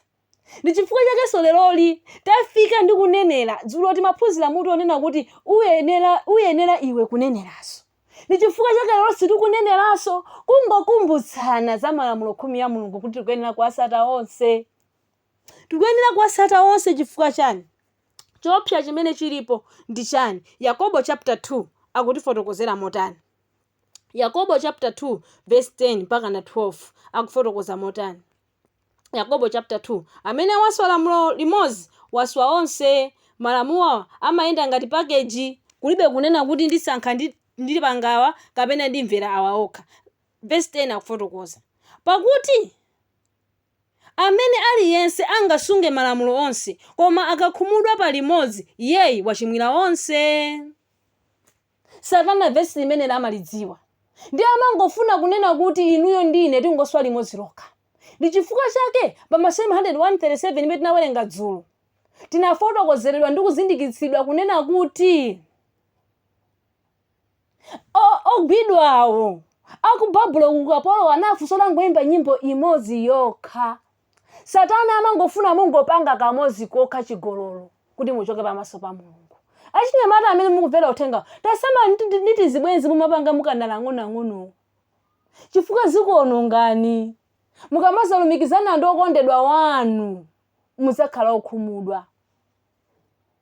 Ndi chifukwa chakenso leroli tafika ndi kunenera. Dzulo timaphunzira mutu wonena kuti uyenera, uyenera iwe kuneneranso. Ndi chifukwa chake leronso tikuneneranso, kungokumbutsana za Malamulo Khumi a Mulungu kuti tikuyenera kuwatsata onse. Tikuyenera kuwatsata onse chifukwa chani? Choopsa chimene chilipo ndi chani? Yakobo chapter 2 akutifotokozera motani? Yakobo chapter 2 verse 10 mpakana 12 akufotokoza motani? Yakobo chapter 2 amene waswa lamulo limodzi waswa onse malamulo amayenda ngati package kulibe kunena kuti ndisankha ndi ndipanga awa kapena ndimvera awa okha verse 10 akufotokoza pakuti amene aliyense angasunge malamulo onse koma akakhumudwa pa limodzi iyeyi wachimwira onse Satana vesi limeneli amalidziwa. Ndiye amangofuna kunena kuti inuyo ndi ine tingoswa limodzi lokha. Ndi chifukwa chake pa Masalimo 137 imene tinawerenga dzulo, tinafotokozeredwa ndi kuzindikitsidwa kunena kuti o- ogwidwawo a ku Babulo ku ukapolowo anafunsidwa angoimba nyimbo imodzi yokha. Satana amangofuna mungopanga kamodzi kokha chigololo kuti muchoke pamaso pa Mulungu. Achinyamata amene mukumvera uthengawu, tasamala ndi- ndi ndi tizibwenzi mumapanga mukanali ang'onoang'onowo chifukwa zikuonongani. Mukamazalumikizana ndi okondedwa wanu mudzakhala okhumudwa.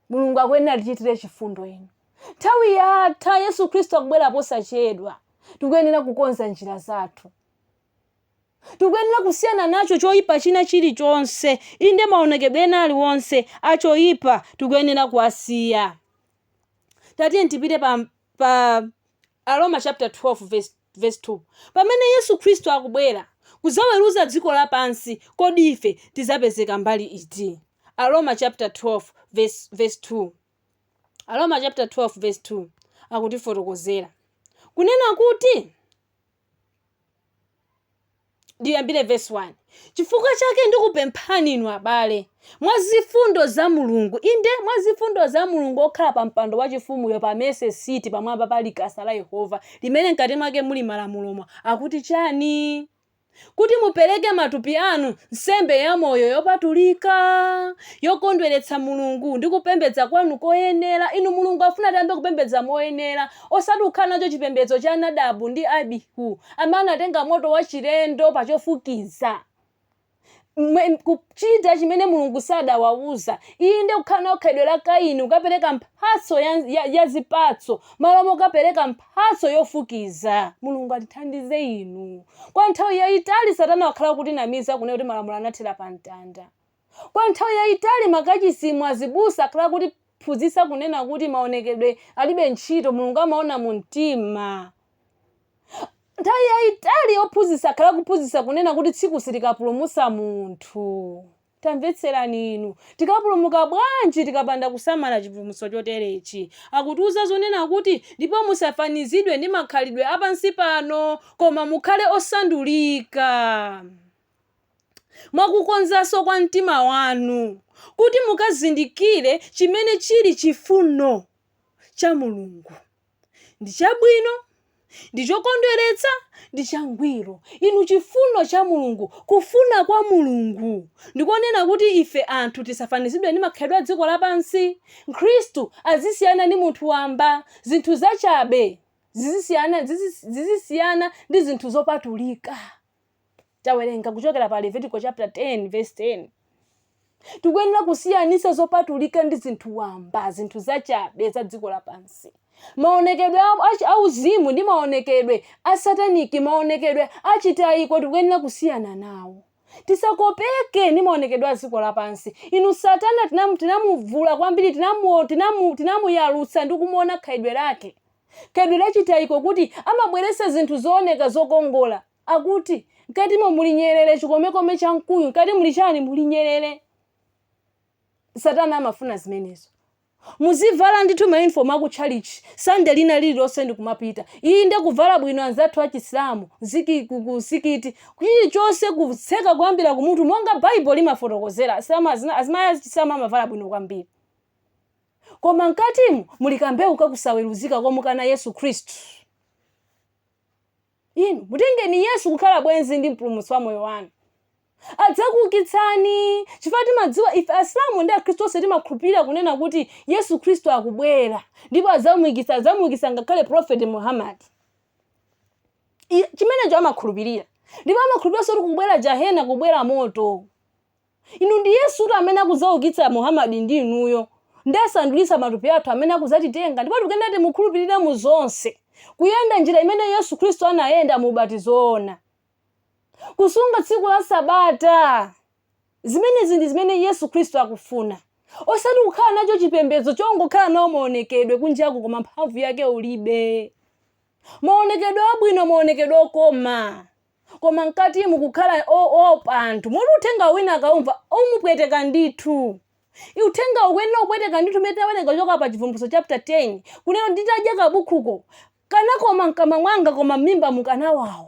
Mulungu akuyenera tichitire chifundo inu. Nthawi yatha, Yesu Khristu akubwera posachedwa. Tikuyenera kukonza njira zathu. Tikuyenera kusiyana nacho choipa china chiri chonse, inde, maonekedwe ena ali wonse a choipa tikuyenera kuwasiya. Tatiyeni tipite pa, pa Aroma chapter 12 verse, verse 2. Pamene Yesu Khristu akubwera kudzaweruza dziko lapansi, kodi ife tidzapezeka mbali iti? Aroma chapter 12 verse, verse 2. Aroma chapter 12 verse 2 akutifotokozera kunena kuti ndiyambire vesi 1 chifukwa chake ndikupemphani inu abale mwa zifundo za mulungu inde mwa zifundo za mulungu okhala pa mpando wachifumuyo pa Mercy Seat pamwamba pa likasa la yehova limene mkati mwake muli malamulomo akuti chani kuti mupereke matupi anu nsembe yamoyo yopatulika yokondweretsa mulungu ndi kupembedza kwanu koyenera inu mulungu afuna tiyambe kupembedza moyenera Osati kukhala nacho chipembedzo cha Nadabu ndi Abihu, amene anatenga moto wachilendo pa chofukiza, mwe, kuchita chimene Mulungu sadawauza, inde, kukhala nawo khalidwe la Kaini, kukapereka mphatso ya, ya, ya zipatso malo mokapereka mphatso yofukiza. Mulungu atithandize inu. Kwa nthawi yaitali Satana wakhala akutinamiza, kunena kuti malamulo anathera pa mtanda. Kwa nthawi yaitali makachisimu azibusa akhala akutiphunzitsa kunena kuti maonekedwe alibe ntchito, Mulungu amaona mu mtima. Nthawi yaitali ophunzitsa akhala akuphunzitsa kunena kuti tsiku silikapulumutsa munthu. Tamvetserani inu, tikapulumuka bwanji tikapanda kusamala chipulumutso choterechi? Akutiuza zonena kuti, ndipo musafanizidwe ndi makhalidwe a pansi pano, koma mukhale osandulika. mwa kukonzanso kwa mtima wanu, kuti mukazindikire chimene chili chifuno cha Mulungu, ndi chabwino, ndi chokondweretsa, ndi changwiro. Inu, chifuno cha Mulungu, kufuna kwa Mulungu, ndi konena kuti ife anthu tisafanizidwe ndi makhalidwe a dziko lapansi. Mkhristu azisiyana ndi munthu wamba. Zinthu zachabe zizisiyana, zizisiyana ndi zinthu zopatulika. Tawerenga kuchokera pa Levitiko chapter 10 verse 10. Tikuyenera kusiyanisa zopatulika ndi zinthu wamba, zinthu zachabe za dziko lapansi. Maonekedwe a uzimu ndi maonekedwe a sataniki, maonekedwe a chitayiko tikuyenera kusiyana nawo. Tisakopeke ndi maonekedwe a dziko lapansi. Inu satana tinamuvula kwambiri, tinamuyalutsa ndi kumuona khalidwe lake. Khalidwe la chitayiko kuti amabweretsa zinthu zooneka zokongola. Akuti, Mkatimo muli nyerere chikomekome cha mkuyu, mkati muli chani? Muli nyerere. Satana amafuna zimenezo. Muzivala ndithu ma uniform aku tchalitchi Sunday lina lililonse ndi kumapita. Inde kuvala bwino anzathu a Chisilamu, ku msikiti, chilichonse kutseka kuyambira kumutu monga Bible limafotokozera, azimayi a Chisilamu amavala bwino kwambiri. Koma mkatimu muli kambewu ka kusaweruzika komukana Yesu Khristu. Inu mutengeni Yesu kukhala bwenzi ndi mpulumutsi wa moyo wanu. Adzakuukitsani chifukwa timadziwa ife Asilamu ndi Akhristu onse timakhulupirira kunena kuti Yesu Khristu akubwera ndipo adzamuukitsa adzamuukitsa ngakhale Prophet Muhammad. Chimenecho amakhulupirira. Ndipo amakhulupiriranso kuti kubwera jahena kubwera moto. Inu ndi Yesutu amene akudzaukitsa Muhamadi ndi inuyo. Nadzasandulitsa matupi athu amene akudzatitenga ndipo tikuyenera timukhulupirire mu zonse, kuyenda njira imene Yesu Khristu anayenda mu ubatizo woona. Kusunga tsiku la Sabata. Zimenezi ndi zimene Yesu Khristu akufuna. Osati kukhala nacho chipembedzo chongokhala nawo maonekedwe kunjaku koma mphamvu yake ulibe. Maonekedwe abwino, maonekedwe okoma. koma mkatimu kukhala opha anthu moti uthengawu wina akaumva umupweteka ndithu. Uthengawu ukuyenera kupweteka ndithu mmene tinawerenga kuchoka pa Chivumbulutso chapter 10 kunena kuti nditadya kabukhuko kanakoma mkamwa mwanga koma m'mimbamu kanawawa.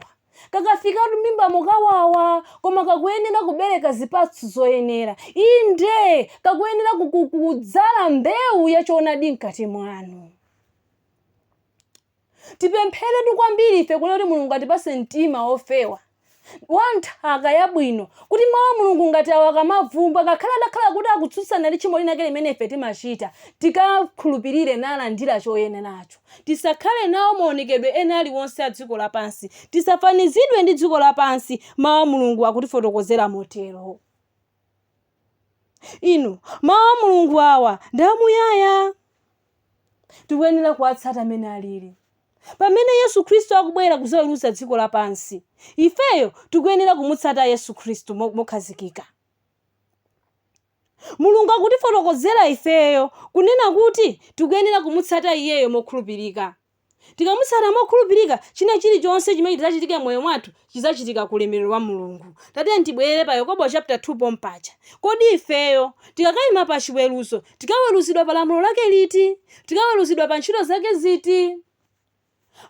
Kakafikatu m'mimbamo kawawa koma kakuyenera kubereka zipatso zoyenera. Inde, kakuyenera kudzala mbewu ya choonadi mkati mwanu. Tipempheretu kwambiri ife kunena kuti Mulungu atipatse mtima wofewa, wa nthaka yabwino, kuti Mawu a Mulungu ngati awa akamavumba, ngakhale atakhala kuti akutsutsana ndi tchimo linake limene ife timachita, tikakhulupirire nalandira choyeneracho. Tisakhale nawo maonekedwe ena aliwonse a dziko lapansi. Tisafanizidwe ndi dziko lapansi, Mawu a Mulungu akutifotokozera motero. inu mawu a mulungu awa ndi amuyaya tikuyenera kuwatsata mmene alili pamene yesu khristu akubwera kuzaweruza dziko lapansi ifeyo tikuyenera kumutsata yesu khristu mokhazikika mulungu akutifotokozera ifeyo kunena kuti tikuyenera kumutsata iyeyo mokhulupirika Tikamutsata mokhulupirika, china chilichonse chimene chidzachitike m'moyo mwathu chidzachitika ku ulemerero wa Mulungu. Tatiyeni tibwerere pa Yakobo chapter 2 pompaja. Kodi ifeyo tikakaima pa chiweruzo, tikaweruzidwa pa lamulo lake liti? Tikaweruzidwa pa ntchito zake ziti?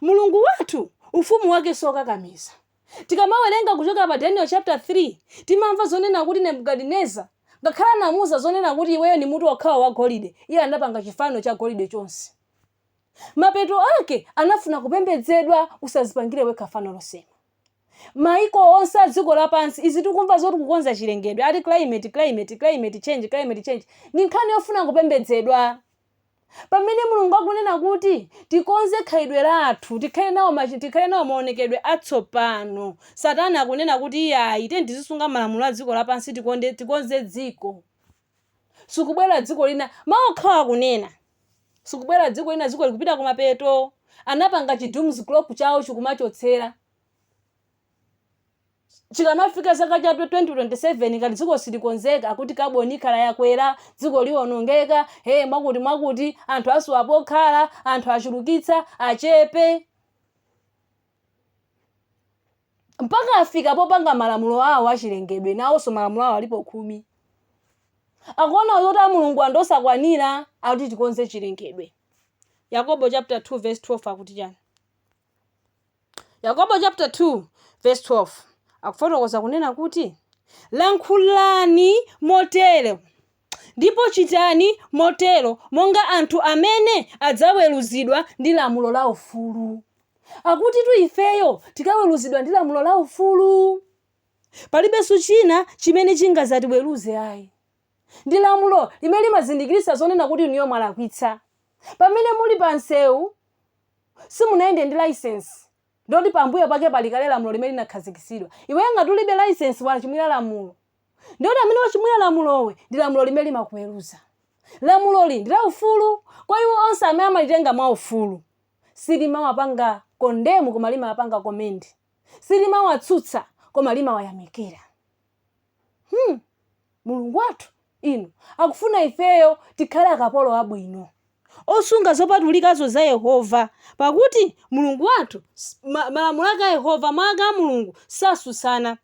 Mulungu wathu, ufumu wake siokakamiza. Tikamawerenga kuchoka pa Daniel chapter 3, timamva zonena kuti Nebukadineza, ngakhale anamuuza zonena kuti iweyo ndi mutu okhawo wa golide, iye anapanga chifano cha golide chonse. Mapeto ake anafuna kupembedzedwa usazipangire wekha fano losema. Maiko onse a dziko lapansi izi tikumva zoti kukonza chilengedwe ati climate climate climate change climate change ndi nkhani yofuna kupembedzedwa. Pamene Mulungu akunena kuti tikonze khalidwe lathu tikhale nawo ma tikhale nawo maonekedwe atsopano. Satana akunena kuti iyayi tiyeni tizisunga malamulo a dziko lapansi tikonze dziko. Sikubwera dziko lina, mawu okhawa akunena. Sikubwera dziko lina, dziko likupita kumapeto. Anapanga chi dooms clock chawo chikumachotsera. Chikamafika zaka cha 2027 ngati dziko silikonzeka akuti carbon ikhala yakwera, dziko liwonongeka, ee mwakuti mwakuti, anthu asowa pokhala, anthu achulukitsa, achepe. mpaka afika popanga malamulo awo achilengedwe nawonso malamulo awo alipo khumi akuona zoti a mulungu ndi osakwanira akuti tikonze chilengedwe yakobo chapter 2 verse 12 akuti chani yakobo chapter 2 verse 12 akufotokoza kunena kuti lankhulani motero Ndipo chitani motero monga anthu amene adzaweruzidwa ndi lamulo la ufulu. Akutitu ifeyo tikaweruzidwa ndi lamulo la ufulu. Palibenso china chimene chingadzatiweruze ayi. Ndi lamulo limene limazindikiritsa zonena kuti inuyo mwalakwitsa. Pamene muli pa msewu, simunayende ndi laisensi, ndiye kuti pambuyo pake pali kale lamulo limene linakhazikitsidwa. Iweyo ngati ulibe laisensi wachimwira lamulo. ndiyoti amene wachimwira lamulowe ndi lamulo limene limakuweruza lamuloli ndi laufulu kwa iwo onse amene amalitenga mwaufulu silimawapanga kondemu koma limawapanga komendi silimawatsutsa koma limawayamikira hmm. mulungu wathu inu akufuna ifeyo tikhale akapolo abwino osunga zopatulikazo za yehova pakuti mulungu wathu s- ma- malamulo ake a yehova mawu ake a mulungu satsutsana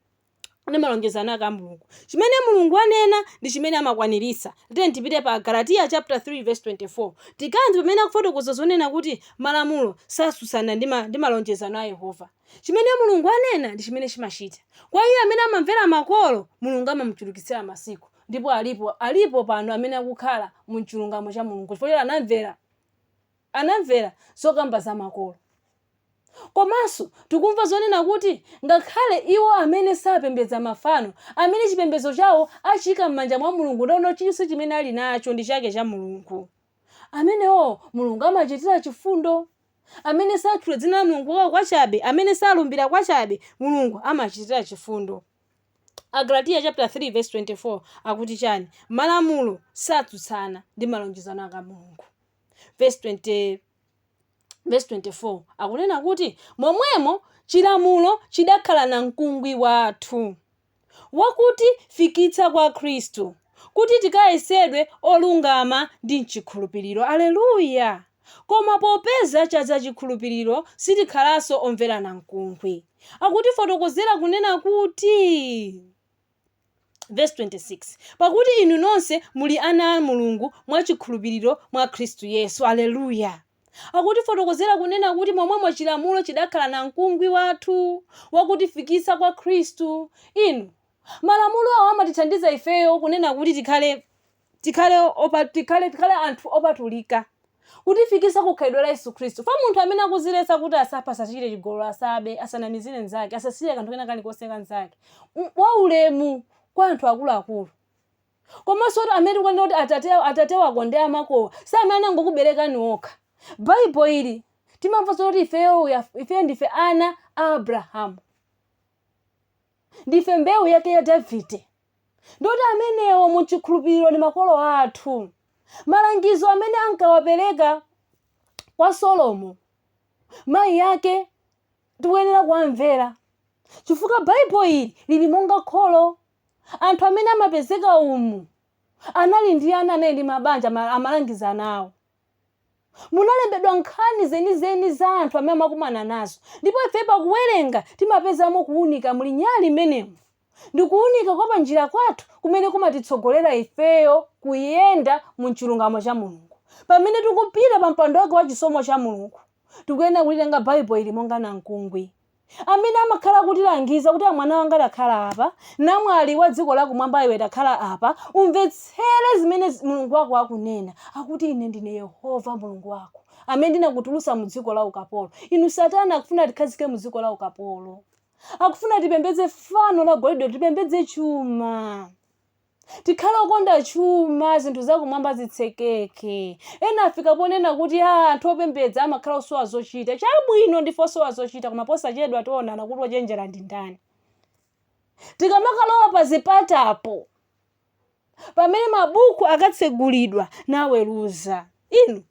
ndi malonjezano ake a Mulungu. Chimene Mulungu anena ndi chimene amakwaniritsa. Tiyeni tipite pa Agalatiya chaputala 3 vesi 24. Tikamve pamene akufotokoza zonena kuti malamulo satsutsana ndi ma, ndi malonjezano a Yehova. Chimene Mulungu anena ndi chimene chimachita. Kwa iye amene amamvera makolo, Mulungu amamuchulukitsira masiku. Ndipo alipo, alipo pano amene akukhala mu chilungamo cha Mulungu chifukwa choti anamvera. anamvera zokamba za makolo. Komanso tikumva zonena kuti ngakhale iwo amene sapembedza mafano, amene chipembedzo chawo achiika m'manja mwa Mulungu ndawona chilichonse chimene ali nacho ndi chake cha Mulungu, amenewo Mulungu amawachitira chifundo. Amene satchula dzina la Mulungu wawo kwachabe, amene salumbira kwachabe, Mulungu amawachitira chifundo. Agalatiya chaputala 3 vesi 24 akuti chani? Malamulo satsutsana ndi malonjezano a Mulungu. vesi 20, vesi 24 akunena kuti, Momwemo chilamulo chidakhala namkungwi wathu, wakutifikitsa kwa Khristu, kuti tikayesedwe olungama ndi m'chikhulupiriro. Aleluya! Koma popeza chadza chikhulupiriro, sitikhalanso omvera namkungwi. Akutifotokozera kunena kuti. Vesi 26 pakuti inu nonse muli ana a mulungu mwa chikhulupiriro mwa khristu yesu aleluya akutifotokozera kunena kuti momwemo chilamulo chidakhala namkungwi wathu wakutifikitsa kwa khristu inu malamulo awo amatithandiza ifeyo kunena kuti tikhale tikhale opa, tikhale tikhale anthu opatulika kutifikitsa ku khalidwe la Yesu Khristu. Fa munthu amene akuziletsa kuti asaphe, asachite chigololo, asabe, asanamizire mnzake, asasirire kanthu kena kalikonse ka mnzake, M- waulemu kwa anthu akuluakulu komanso kuti amene tikunena kuti atate, atate wako ndi amakowo si amene anangokuberekani okha baibo ili timamva zoti ifeyo we are- ifeyo ndife ana a abrahamu Ndife mbewu yake ya Davide. Ndiye kuti amenewo mu mchikhulupiriro ndi makolo athu. Malangizo amene ankawapereka kwa Solomo, mayi ake, tikuyenera kuwamvera. Chifukwa Baibo ili lili monga kholo. Anthu amene amapezeka umu anali ndi ana, anali ndi mabanja, amalangiza ana awo. Munalembedwa nkhani zenizeni za anthu amene amakumana nazo, ndipo ife pakuwerenga timapezamo kuunika. Muli nyali mmenemu. Ndi kuunika kwa panjira kwathu kumene kumatitsogolera ifeyo kuyenda mu chilungamo cha Mulungu. Pamene tikupita pa mpando wake wa chisomo cha Mulungu, tikuyenera kulitenga Baibulo ili monga namkungwi. amene amakhala akutilangiza kuti, Mwana wanga, takhala apa. Namwali wa dziko lakumwamba iwe, takhala apa. Umvetsere zimene Mulungu wako akunena. Akuti, Ine ndine Yehova Mulungu wako, amene ndinakutulutsa mu dziko la ukapolo. Inu, Satana akufuna atikhazike mu dziko la ukapolo. Akufuna tipembedze fano la golide, tipembedze chuma. Tikhale okonda chuma, zinthu zakumwamba zitsekeke. Ena afika ponena kuti, Aa, anthu opembedza amakhala osowa zochita. Chabwino, ndife osowa zochita, koma posachedwa tionana kuti wochenjera ndi ndani. Tikamakalowa pazipatapo, pamene mabuku akatsegulidwa naweruza inu.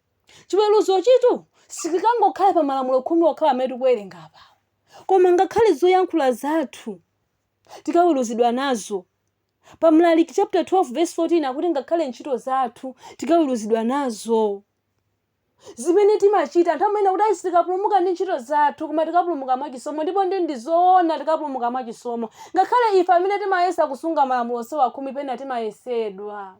Chiweruzochitu sichikangokhala pa Malamulo Khumi okhawa amene tikuwerenga apawa, koma ngakhale zoyankhula zathu tikaweruzidwa nazo. pa Mlaliki chapter 12 verse 14 akuti ngakhale ntchito zathu tikaweruzidwa nazo zimene timachita anthu amanena kuti ayi sitikapulumuka ndi ntchito zathu koma tikapulumuka mwa chisomo ndipo ndi ndizoona tikapulumuka mwa chisomo ngakhale ife amene timayesa kusunga malamulo onsewa khumi pena timayesedwa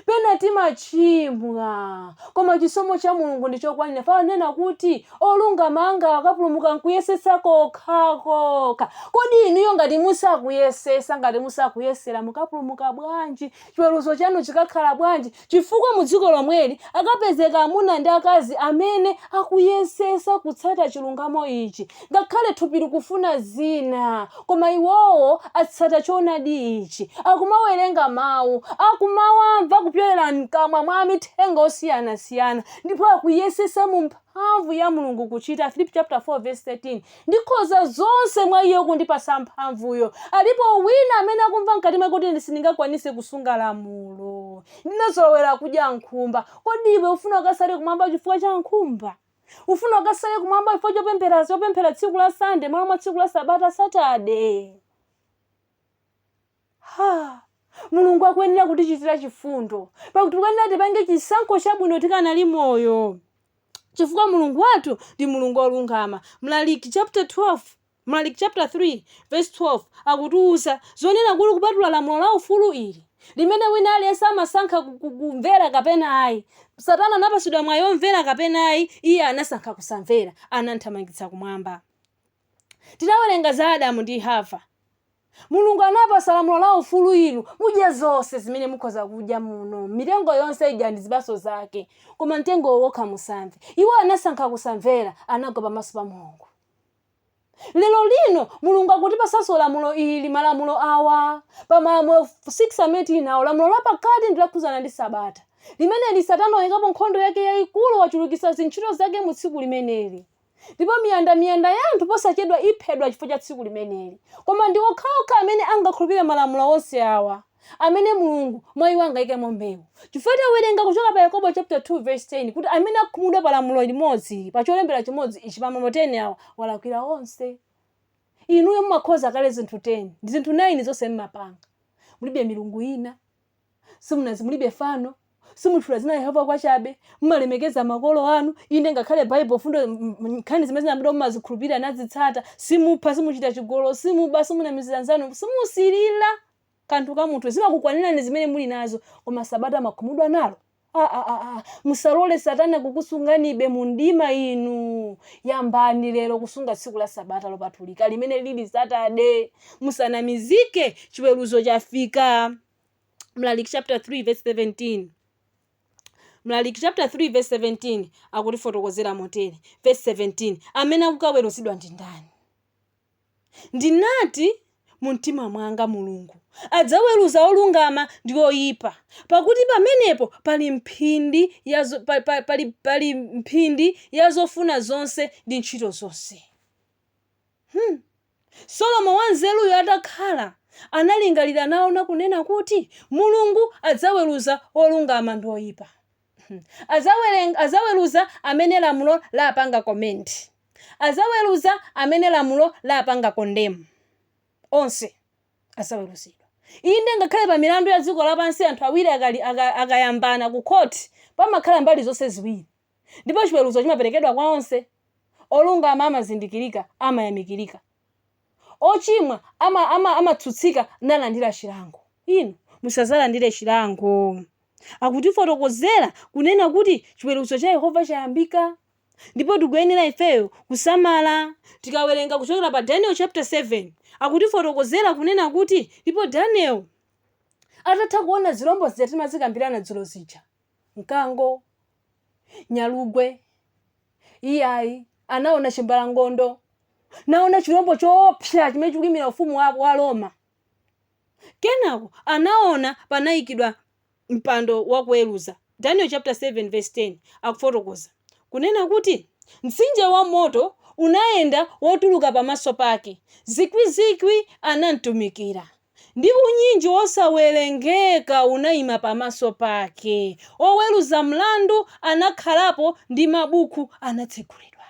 pena timachimwa koma chisomo cha mulungu ndi chokwanira ponena kuti olungama anga akapulumuka nkuyesetsa kokhakokha kodi inuyo ngati musakuyesesa ngati musakuyesera mukapulumuka bwanji chiweruzo chanu chikakhala bwanji chifukwa mu dziko lomweli akapezeka amuna ndi akazi amene akuyesesa kutsata chilungamo ichi Ngakhale thupi likufuna zina, koma iwowo atsata choonadi ichi, akumawerenga Mawu, akumawamva kupyolera mkamwa mwa amithenga osiyanasiyana, ndipo akuyesetsa mu mphamvu ya Mulungu kuchita, Afilipi chapter 4 verse 13, Ndikhoza zonse mwa Iye wokundipatsa mphamvuyo. Alipo wina amene akumva mkati mwake kuti sindingakwanitse kusunga lamulo. Ndinazolowera kudya nkhumba. Kodi iwe ufuna ukasale kumwamba chifukwa cha nkhumba? Ufuna ukasale kumwamba chifukwa chopemphera chopemphera tsiku la Sunday m'malo mwa tsiku la Sabata Saturday. Ha! Mulungu akuyenera kutichitira chifundo. Pakuti tikuyenera tipange chisankho chabwino tikanali moyo. Chifukwa Mulungu wathu ndi Mulungu wolungama. Mlaliki chapter 12 Mlaliki chapter 3 verse 12 akutiuza zonena kuti kupatula lamulo la ufulu ili, limene wina aliyense amasankha kumvera kapena ayi. Satana anapatsidwa mwayi womvera kapena ayi, iye anasankha kusamvera, anamthamangitsa kumwamba. Tinawerenga za Adamu ndi Hava. Mulungu anapasa lamulo la ufulu ili, mudye zonse zimene mukhoza kudya muno, mitengo yonse idyani zipaso zake, koma mtengo uwu wokha musamve. Iwo anasankha kusamvera, anagwa pamaso pa Mulungu. Lero lino Mulungu akutipatsanso lamulo ili, malamulo awa, pa malamulo 6 amene tili nawo, lamulo la pakati ndi lokhudzana ndi Sabata. Limeneli Satana wayikapo nkhondo yake yayikulu, wachulukitsa zintchito zake mu tsiku limeneli. Ndipo miyanda miyanda ya anthu posachedwa iphedwa chifukwa cha tsiku limeneli. Koma ndi okhaokha amene angakhulupire malamulo onse awa. amene Mulungu mwa iwo angaikemo mbewu. Chifukwa tawerenga kuchoka pa Yakobo chapter 2 verse 10 kuti amene akhumudwa pa lamulo limodzi, pa cholembera chimodzi ichi, pa malo 10 awa, walakwira onse. Inuyo mumakhoza kale zinthu 10, ndi zinthu 9 zonse mmapanga. Mulibe milungu ina, mulibe fano, simutchula dzina la Yehova pachabe, mumalemekeza makolo anu, inde ngakhale Baibulo mfundo nkhani zimene zinalembedwa mumazikhulupirira nazitsata, simupha, simuchita chigololo, simuba, simunamizira nzanu, simusirira. kanthu ka munthu zimakukwanirani zimene muli nazo koma sabata mmakhumudwa nalo aa musalole satana kukusunganibe mu mdima inu yambani lero kusunga tsiku la sabata lopatulika limene lili Saturday musanamizidwe chiweruzo chafika mlaliki chapter 3 verse 17 mlaliki chapter 3 verse 17 akutifotokozera motere verse 17 amene akukaweruzidwa ndi ndani Ndinati mu mtima mwanga, Mulungu adzaweruza olungama ndi oipa, pakuti pamenepo pali mphindi ya, zo, pa, pa, pali, pali mphindi ya zofuna zonse ndi ntchito zonse. Hmm. Solomoni wanzeruyo atakhala, analingalira naona kunena kuti, Mulungu adzaweruza olungama ndi oipa. Azawerenga azaweruza amene lamulo lawapanga commend. Azaweruza amene lamulo lawapanga condemn. Onse azaweruzidwa. Inde ngakhale pa milandu ya dziko lapansi anthu awiri akali aka akayambana ku court pamakhala mbali zonse ziwiri. Ndipo chiweruzo chimaperekedwa kwa onse. Olungama amazindikirika, amayamikirika. Ochimwa ama, ama, amatsutsika nalandira chilango. Inu musadzalandire chilango. Akutifotokozera, kunena kuti chiweruzo cha Yehova chayambika, ndipo tikuyenera ifeyo kusamala. Tikawerenga kuchokera pa Daniel chapter 7, akutifotokozera kunena kuti, ndipo Daniel, atatha kuona zirombo zija timazikambirana dzulo zija, mkango, nyalugwe iyayi anaona chimbalangondo naona chilombo choopsa chimene chikuyimira ufumu wa, wa roma kenako anaona panayikidwa mpando wakuweruza daniel chapter 7 verse 10 akufotokoza kunena kuti mtsinje wa moto unayenda wotuluka pamaso pake zikwizikwi anamtumikira Ndi unyinji wosawerengeka unaima pamaso pake, oweruza mlandu anakhalapo ndi mabukhu anatsegulidwa.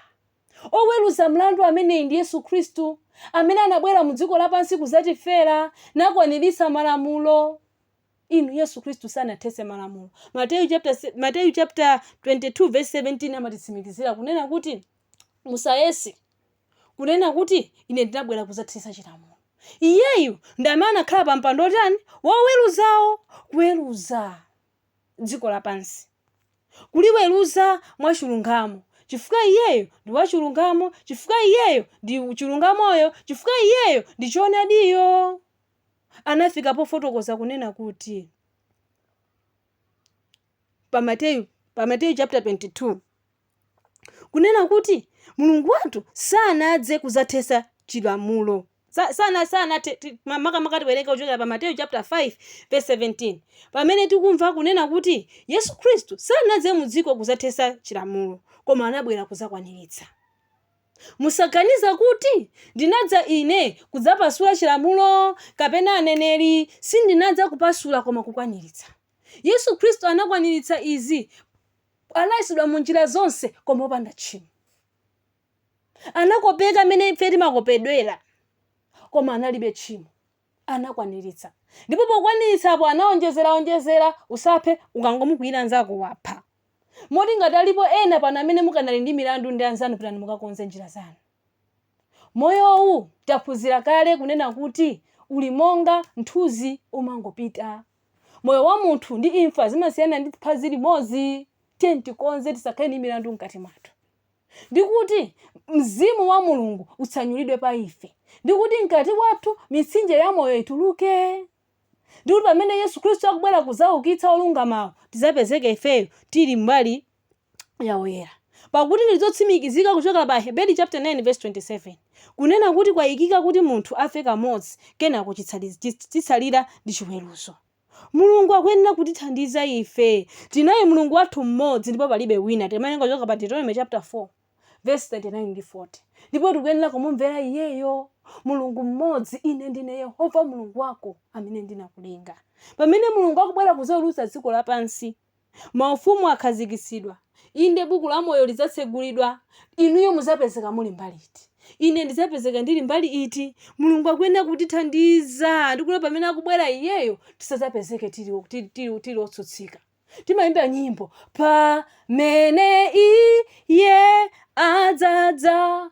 Oweruza mlandu ameneyi ndi Yesu Khristu, Amene anabwera mu dziko lapansi kudzatifera, nakwaniritsa malamulo. Inu, Yesu Khristu sanathetse malamulo. Mateyu chapter se Mateyu chapter 22 verse 17 amatitsimikizira kunena kuti, Musayese. kunena kuti ine ndinabwera kudzathetsa chilamulo. Iyeyu ndi amene anakhala pa mpando wotani? Woweruzawo, kuweruza dziko lapansi, kuliweruza mwachilungamo, chifukwa Iyeyo ndi wachilungamo, chifukwa Iyeyo ndi chilungamoyo, chifukwa Iyeyo ndi choonadiyo. Anafika pofotokoza kunena kuti pa Mateyu pa Mateyu chapter 22 kunena kuti Mulungu wathu sanadze kuzathetsa chilamulo. Sa- sana sana te- ti- ma- makamaka tiwerenga kuchokera pa mateyu chapter 5 verse 17 pamene tikumva kunena kuti yesu khristu sanadze mu dziko kuzathetsa chilamulo koma anabwera kuzakwaniritsa musaganize kuti ndinadza ine kudzapasula chilamulo kapena aneneri sindinadza kupasula koma kukwaniritsa yesu khristu anakwaniritsa izi anayesedwa mu njira zonse koma opanda tchimo. Anakopeka mmene ife timakopedwera koma analibe tchimo. Anakwaniritsa. Ndipo pokwaniritsa apo anaonjezera onjezera usaphe ukangomukwiyira nzako wapha. Moti ngati alipo ena pano amene mukanali ndi milandu ndi anzanu pitani mukakonze njira zanu. Moyowu taphunzira kale kunena kuti uli monga nthuzi umangopita Moyo wa munthu ndi imfa zimasiyana ndi phazi limodzi. Tiyeni tikonze, tisakhale ndi milandu mkati mwathu, ndi kuti mzimu wa Mulungu utsanyulidwe pa ife, ndi kuti mkati wathu mitsinje ya moyo ituluke, ndi kuti pamene Yesu Khristu akubwera kudzawukitsa olungamawo tidzapezeke ifeyo tili mbali ya oyera pakuti ndi zotsimikizika kuchokera pa Aheberi chapter 9 verse 27 kunena kuti kwayikika kuti munthu afe kamodzi kenako chitsali- chits- chitsalira ndi chiweruzo mulungu akuyenera kutithandiza ife tinaye mulungu wathu mmodzi ndipo palibe wina timawerenga kuchoka pa deuteronomy chapter 4 verse 39 ndi 40 ndipo tikuyenera kumumvera iyeyo mulungu mmodzi ine ndine yehova mulungu wako amene ndinakulenga pamene mulungu akubwera kuzaweruza dziko lapansi Maufumu akhazikitsidwa. Inde, Buku la Moyo lidzatsegulidwa. Inuyo mudzapezeka muli mbali iti? Ine ndidzapezeka ndili mbali iti? Mulungu akuyenera kutithandiza ndi kuti pamene akubwera Iyeyo tisadzapezeke tili, tili, tili, tili otsutsika. Timayimba nyimbo, Pamene Iye adzadza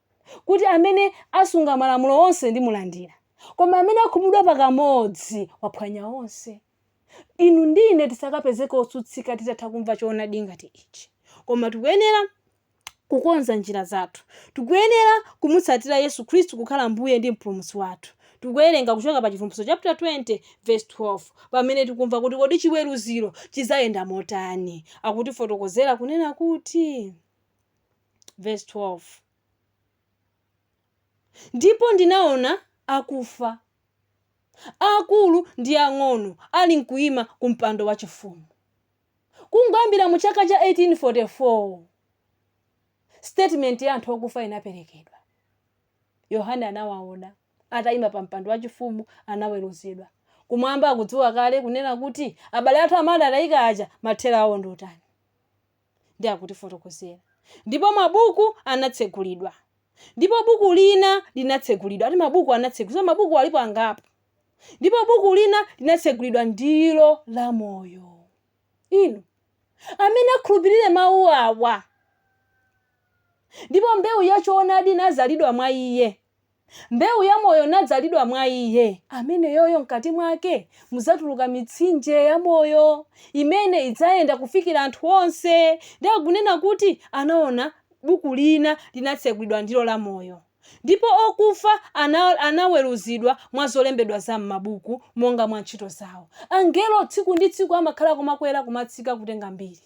kuti amene asunga malamulo onse ndimulandira. Koma amene akhumudwa pa kamodzi, waphwanya onse. Inu ndi ine tisakapezeke otsutsika titatha kumva choonadi ngati ichi. Koma tikuyenera kukonza njira zathu. Tikuyenera kumutsatira Yesu Khristu kukhala Mbuye ndi Mpulumutsi wathu. Tikuwerenga kuchoka pa Chivumbulutso chapter 20 verse 12 pamene tikumva kuti kodi chiweruziro chidzayenda motani. Akutifotokozera kunena kuti. Vesi 12. Ndipo ndinaona akufa, aakulu ndi ang'ono, alinkuima ku mpando wachifumu. Kungoyambira mu chaka cha 1844 statement ya anthu okufa inaperekedwa. Yohane anawaona ataima pa mpando wachifumu, anaweruzidwa. Kumwamba akudziwa kale kunena kuti abale athu amene adatayika aja mathero awo ndi otani. ndi akutifotokozera ndipo mabuku anatsegulidwa ndipo buku lina linatsegulidwa ati mabuku anatsegulidwa so mabuku alipo angapo ndipo buku lina linatsegulidwa ndilo la moyo inu amene akhulupirire mawu awa ndipo mbewu ya choonadi inadzalidwa mwa iye Mbewu ya Moyo inadzalidwa mwa Iye, ameneyoyo, mkati Mwake mudzatuluka mitsinje ya Moyo, imene idzayenda kufikira anthu onse. Ndi akunena kuti anawona Buku lina linatsegulidwa, ndilo la Moyo, ndipo okufa anaweruzidwa mwa zolembedwa za m'mabuku, monga mwa ntchito zawo. Angelo tsiku ndi tsiku amakhala akumakwera kumatsika kutenga mbiri.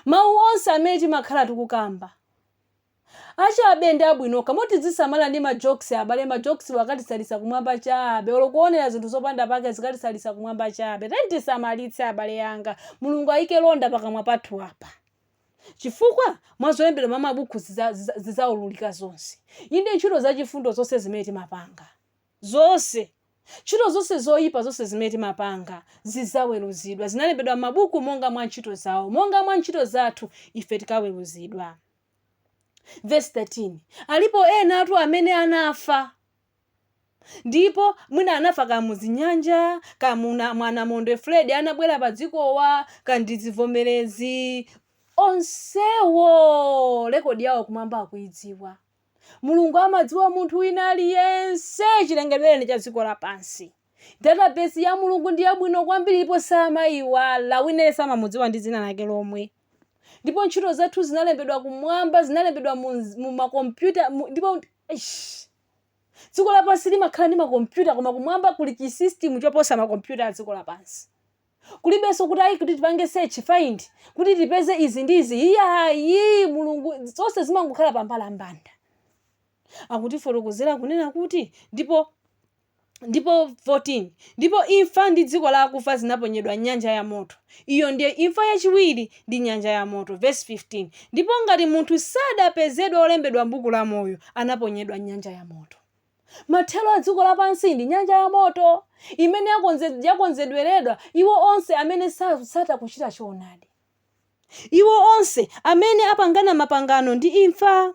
Mawu onse amene timakhala tikukamba. Achabe ndi abwino okha. Moti tidzisamala ndi ma jokes abale, ma jokes wo akatisalisa kumwamba chabe, olo kuonela zinthu zopanda pake zikatisalisa kumwamba chabe. Tiyeni tisamalitse abale anga. Mulungu ayike mlonda pakamwa pathu apa. Chifukwa mwa zolembedwa mwa mabuku zidza zidza zidzaululika zonse. Inde ntchito za chifundo zonse zimene timapanga. Zonse. Ntchito zonse zoyipa zonse zimene timapanga zidzaweruzidwa. Zinalembedwa m'mabuku monga mwa ntchito zawo. Monga mwa ntchito zathu ife tikaweruzidwa. Vesi 13, alipo enatu amene anafa ndipo mwina anafa ka muzinyanja ka muna- mwa namondwe Freddy anabwera pa dzikowa ka ndi zivomerezi onsewo rekodi yawo kumwamba akuidziwa. Mulungu amadziwa munthu wina aliyense chilengedwereni cha dziko lapansi. Database ya Mulungu ndi yabwino kwambiri ndipo samaiwala. Wina aliyense amamudziwa ndi dzina lake lomwe. Ndipo ntchito zathu zinalembedwa kumwamba, zinalembedwa mu, mu makompyuta mu, ndipo eish. Dziko lapansi limakhala ndi makompyuta koma kumwamba kuli chisystem choposa makompyuta a dziko lapansi. Kulibenso kuti ayi kuti tipange search find kuti tipeze izi ndi izi. Iyayi Mulungu zonse zimangokhala pambalambanda. Akutifotokozera kunena kuti ndipo ndipo 14 ndipo imfa ndi dziko la akufa zinaponyedwa m'nyanja ya moto. Iyo ndiye imfa yachiwiri ndi nyanja ya moto. Vesi 15 ndipo ngati munthu sadapezedwa wolembedwa m'buku la moyo, anaponyedwa m'nyanja ya moto. Mathero a dziko lapansi ndi nyanja ya moto imene yakonze, yakonzedweredwa iwo onse amene satsata kuchita choonadi, iwo onse amene apangana mapangano ndi imfa.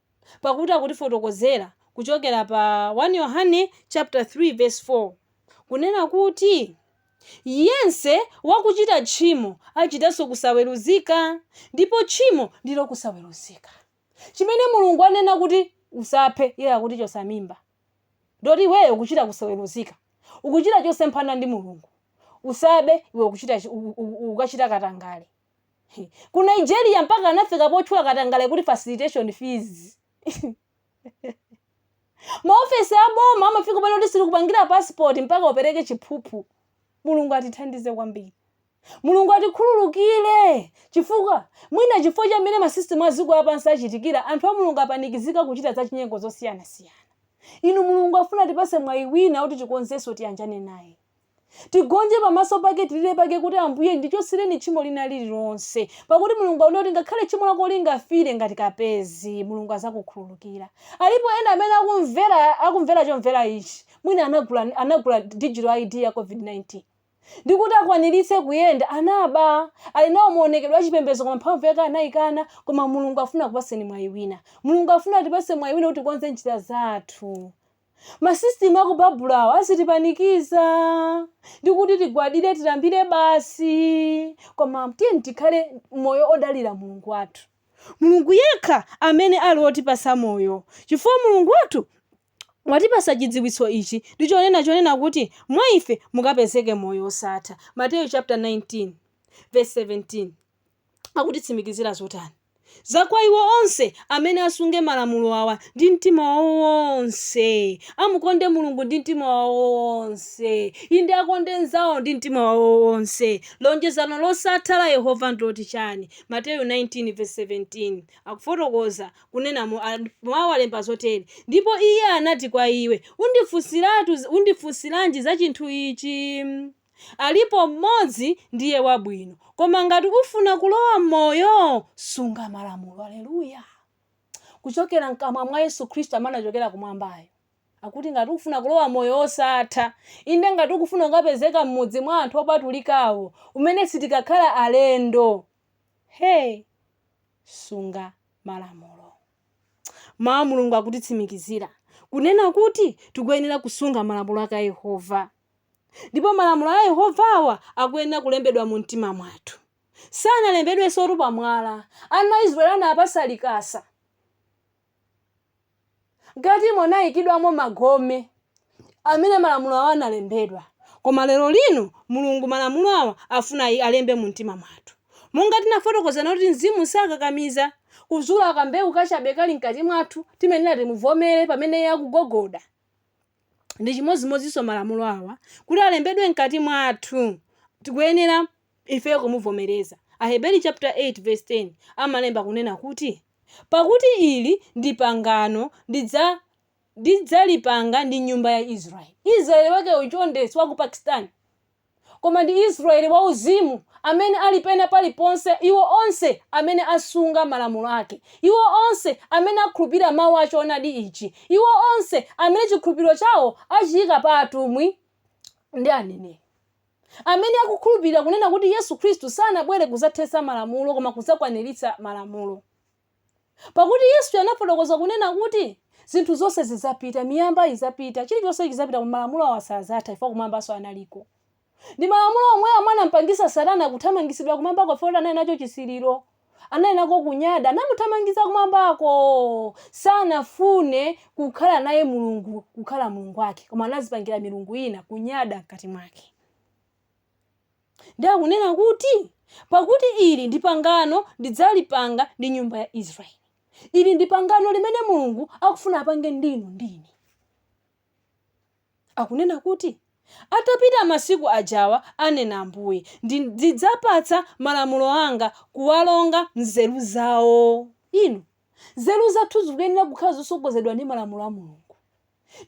pakuti akutifotokozera kuchokera pa 1 Yohane chapter 3 verse 4 kunena kuti yense wakuchita tchimo achitanso kusaweruzika ndipo tchimo ndilo kusaweruzika chimene mulungu anena kuti usaphe iye akuti chosa mimba ndiye kuti iweyo ukuchita kusaweruzika ukuchita chosemphana ndi mulungu usabe iwe ukuchita chi- u- u- u- ukachita katangale Ku Nigeria mpaka anafika potchula katangale kuti facilitation fees. Maofesi a boma amafika ponena kuti sitikupangira passport mpaka upereke chiphuphu. Mulungu atithandize kwambiri. Mulungu atikhululukire chifukwa mwina chifukwa cha mmene masisitemu a dziko lapansi achitikira, anthu a Mulungu apanikizika kuchita zachinyengo zosiyanasiyana. Inu Mulungu afuna atipatse mwayi wina woti tikonzenso tiyanjane naye. Tigonje pamaso pake tilile pake kuti ambuye ndichoseleni tchimo lina lililonse pakuti mulungu anena kuti ngakhale tchimo lako lingafile ngati kapezi mulungu azakukhululukila alipo ena amene akumvela akumvela chomvela ichi mwina anagula anagula digital ID ya covid 19 ndikuti akwanilitse kuyenda anaba ali nawo muonekedwe wa chipembezo koma mphamvu yake anaikana koma mulungu afuna akupaseni mwayi wina mulungu afuna atipase mwayi wina kuti tikonze njila zathu Masisitimu a ku Babulo awa azitipanikiza ndi kuti tigwadire tilambire basi, koma tiyeni tikhale moyo odalira Mulungu wathu, Mulungu yekha amene ali wotipasa moyo, chifukwa Mulungu wathu watipasa chidziwitso ichi ndi cholinga chonena kuti mwa ife mukapezeke moyo osatha. Mateyu chapter 19 verse 17. akutitsimikizira zotani za kwa iwo onse amene asunge malamulo awa ndi mtima wawo wonse, amukonde Mulungu ndi mtima wawo wonse, inde akonde mnzawo ndi mtima wawo wonse? Lonjezano losatha la Yehova ndiloti chani? Mateyu 19 vesi 17 akufotokoza kunena mawu alemba zotere, ndipo Iye anati kwa iwe, undifunsiratu undifunsiranji za chinthu ichi? Alipo Mmodzi, ndiye wabwino. Koma ngati ufuna kulowa m'moyo, sunga malamulo. Aleluya! Kuchokera mkamwa mwa Yesu Khristu amene anachokera Kumwambayo, akuti ngati ukufuna kulowa Moyo wosatha, inde, ngati ukufuna kukapezeka mmudzi mwa anthu opatulikawo, umene sitikakhala alendo, he, sunga malamulo. Mawu a Mulungu akutitsimikizira, kunena kuti tikuyenera kusunga malamulo ake a Yehova. Ndipo malamulo a Yehova awa akuyenera kulembedwa mu mtima mwathu. Sanalembedwensotu pa mwala. Ana a Israeli anawapatsa likasa. Mkatimo anayikidwamo magome amene malamulo awa analembedwa. Koma lero lino Mulungu malamulo awa afuna alembe mu mtima mwathu. Monga tinafotokozana kuti mzimu sakakamiza, kuzula kambewu kachabe kali mkati mwathu, timayenera timuvomere pamene iye akugogoda. ndi chimodzimodzinso malamulo awa kuti alembedwe mkati mwathu tikuyenera ifeyo kumuvomereza aheberi chapter 8 verse 10 amalemba kunena kuti pakuti ili ndi pangano ndidza ndidzalipanga ndi nyumba ya israeli israeli wake uyu chonde si wa ku pakistan Koma ndi Israyeli wauzimu, amene ali pena paliponse, iwo onse amene asunga malamulo ake, iwo onse amene akhulupirira Mawu a Choonadi ichi, iwo onse amene chikhulupiriro chawo achiika pa atumwi ndi aneneri, amene akukhulupirira kunena kuti Yesu Kristu sanabwere kudzathetsa malamulo koma kudzakwaniritsa malamulo. Pakuti Yesu anafotokoza kunena kuti, Zinthu zonse zidzapita, miyamba idzapita, chilichonse chidzapita koma malamulo awa sadzatha chifukwa kumwambanso analiko. Ndi malamulo omwewa amene anampangitsa Satana kuthamangitsidwa kumwambako chifukwa choti anali nacho chisiliro, anali nako kunyada, anamuthamangitsa kumwambako. Sanafune kukhala naye Mulungu, kukhala Mulungu wake, koma anadzipangira milungu ina, kunyada mkati mwake. Ndiye akunena kuti, Pakuti ili ndi pangano ndidzalipanga ndi nyumba ya Israeli. Ili ndi pangano limene Mulungu akufuna apange ndi inu ndi ine. Akunena kuti, Atapita masiku ajawa, anena Ambuye, ndi, ndidzapatsa malamulo anga kuwalonga m'nzeru zawo. Inu, nzeru zathu zikuyenera kukhala zosogozedwa ndi malamulo a Mulungu.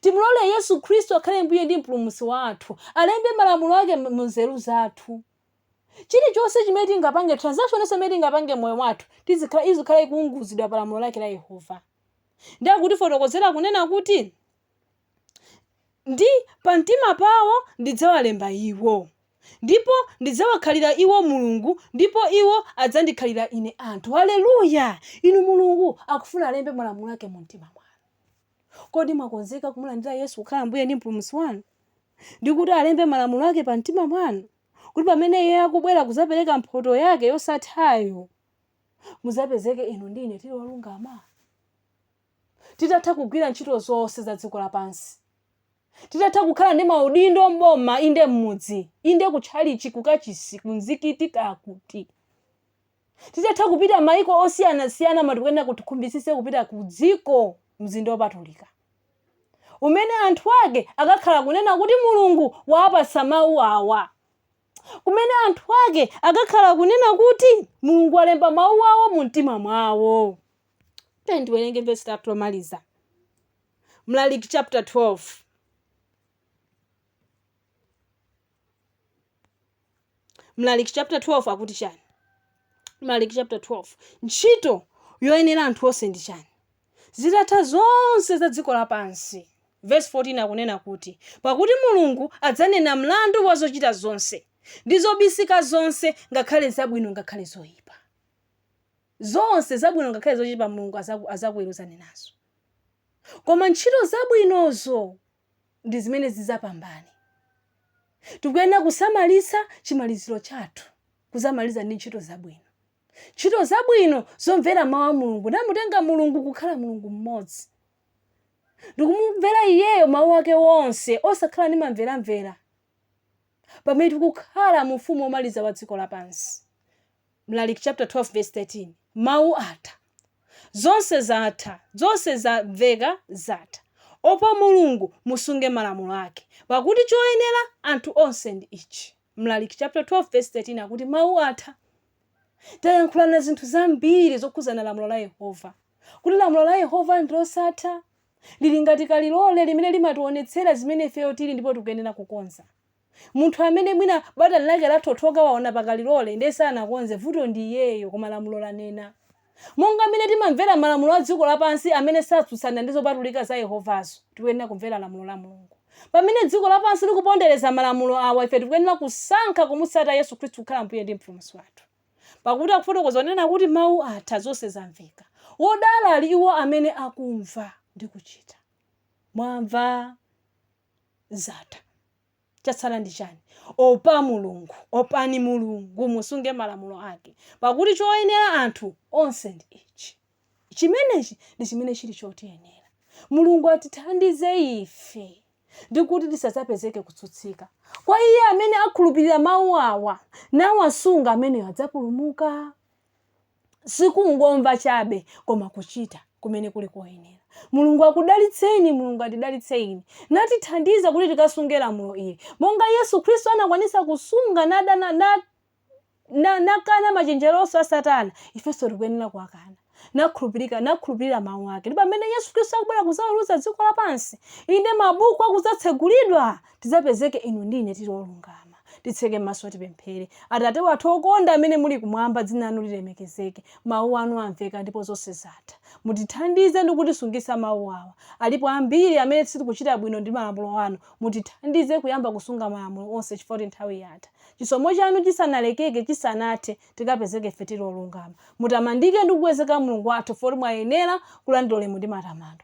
Timulole Yesu Khristu akhale Mbuye ndi Mpulumutsi wathu, alembe malamulo ake mu nzeru zathu. Chilichonse chimene tingapange, transaction yonse imene tingapange m'moyo wathu, tizikhala, izikhala ikuunguzidwa pa lamulo lake la Yehova. Ndiye akutifotokozera kunena kuti, ndi pamtima pawo ndidzawalemba iwo, ndipo ndidzawakhalira iwo Mulungu, ndipo iwo adzandikhalira ine anthu. Haleluya! Inu Mulungu akufuna alembe malamulo ake mu mtima mwanu. Kodi mwakonzeka kumulandira Yesu kukhala Mbuye ndi Mpulumutsi wanu? Ndi kuti alembe malamulo ake pa mtima mwanu? Kuti pamene Iye akubwera kudzapereka mphoto yake yosathayo, mudzapezeke inu ndi ine tili olungama? Titatha kugwira ntchito zonse za dziko lapansi, titatha kukhala ndi maudindo m'boma, inde m'mudzi, inde kutchalichi, kukachisi, kumzikiti, kakuti, Titatha kupita maiko osiyanasiyana koma tikuyenera kuti tikhumbitsitse kupita ku dziko mzinda wopatulika umene anthu ake akakhala kunena kuti Mulungu waapatsa mau awa kumene anthu ake akakhala kunena kuti Mulungu walemba mau awo mu mtima mwawo. Tiyeni tiwerenge vesi lathu lomaliza. Mlaliki chapter 12. mlaliki chapter 12 akuti chani mlaliki chapter 12 ntchito yoyenera anthu onse ndi chani zitatha zonse za dziko lapansi verse 14 akunena kuti pakuti mulungu adzanena mlandu wa zochita zonse ndi zobisika zonse ngakhale zabwino ngakhale zoyipa zonse zabwino ngakhale zoyipa mulungu azakuweruzani nazo koma ntchito zabwinozo ndi zimene zidzapambane. Tikuyenera kusamalitsa chimaliziro chathu, kuzamaliza ndi ntchito zabwino. Ntchito zabwino zomvera mawu a Mulungu namutenga Mulungu kukhala Mulungu mmodzi ndikumumvera iyeyo mawu ake onse osakhala ndi mamveramvera pamene tikukhala mu ufumu womaliza wa dziko lapansi Mlaliki chaputala 12 vesi 13 mawu atha, zonse zatha, zonse zamveka, zatha. Opa Mulungu, musunge malamulo ake, pakuti choyenera anthu onse ndi ichi. Mlaliki chaputala 12 vesi 13 akuti mawu atha. Tayankhulana zinthu zambiri zokhudzana lamulo la Yehova, kuti lamulo la Yehova ndi losatha, lili ngati kalilole limene limationetsera zimene ifeyo tili ndipo tikuyenera kukonza. Munthu amene mwina batani lake lathothoka waona pa kalilole ndiye sanakonze, vuto ndi iyeyo koma lamulo lanena. Monga mmene timamvera malamulo a dziko lapansi amene satsutsana ndi zopatulika za Yehovazo, tikuyenera kumvera lamulo la Mulungu. Pamene dziko lapansi likupondereza malamulo awa, ife tikuyenera kusankha kumutsatira Yesu Khristu kukhala Mbuye ndi Mpulumutsi wathu. Pakuti akufotokoza kunena kuti mau atha, zonse zamveka. Wodala ali iwo amene akumva ndi kuchita. Mwamva? zatha chatsala ndi chani opa mulungu opani mulungu musunge malamulo ake pakuti choyenera anthu onse ndi ichi chimenechi ndi chimene chili chotiyenera mulungu atithandize ife ndikuti tisadzapezeke kutsutsika kwa iye amene akhulupirira mawu awa nawasunga ameneyo adzapulumuka sikungomva chabe koma kuchita kumene kuli koyenera mulungu akudalitseni mulungu atidalitseni natithandiza kuti tikasunge lamulo ili monga yesu khristu anakwanisa kusunga nakana na, na, nakana machenjero onse a satana ifenso tikuyenera kuwakana nakhulupirika nakhulupirira mawu ake ndipo pamene yesu khristu akubwera kuzaweruza dziko lapansi inde mabuku akuzatsegulidwa tidzapezeke inu ndi ine tili olungama. Titseke maso tipemphere. Atate wathu okonda amene muli kumwamba, dzina lanu lilemekezeke. Mawu anu amveka ndipo zonse zatha. Mutithandize ndi kutisungitsa mawu awa. Alipo ambiri amene sitikuchita bwino ndi malamulo anu. Mutithandize kuyamba kusunga malamulo onse chifukwa kuti nthawi yatha. Chisomo chanu chisanalekeke, chisanathe, tikapezeke ife tili olungama. Mutamandike ndi kukwezeka Mulungu wathu chifukwa kuti mwayenera kulandira ulemu ndi matamando.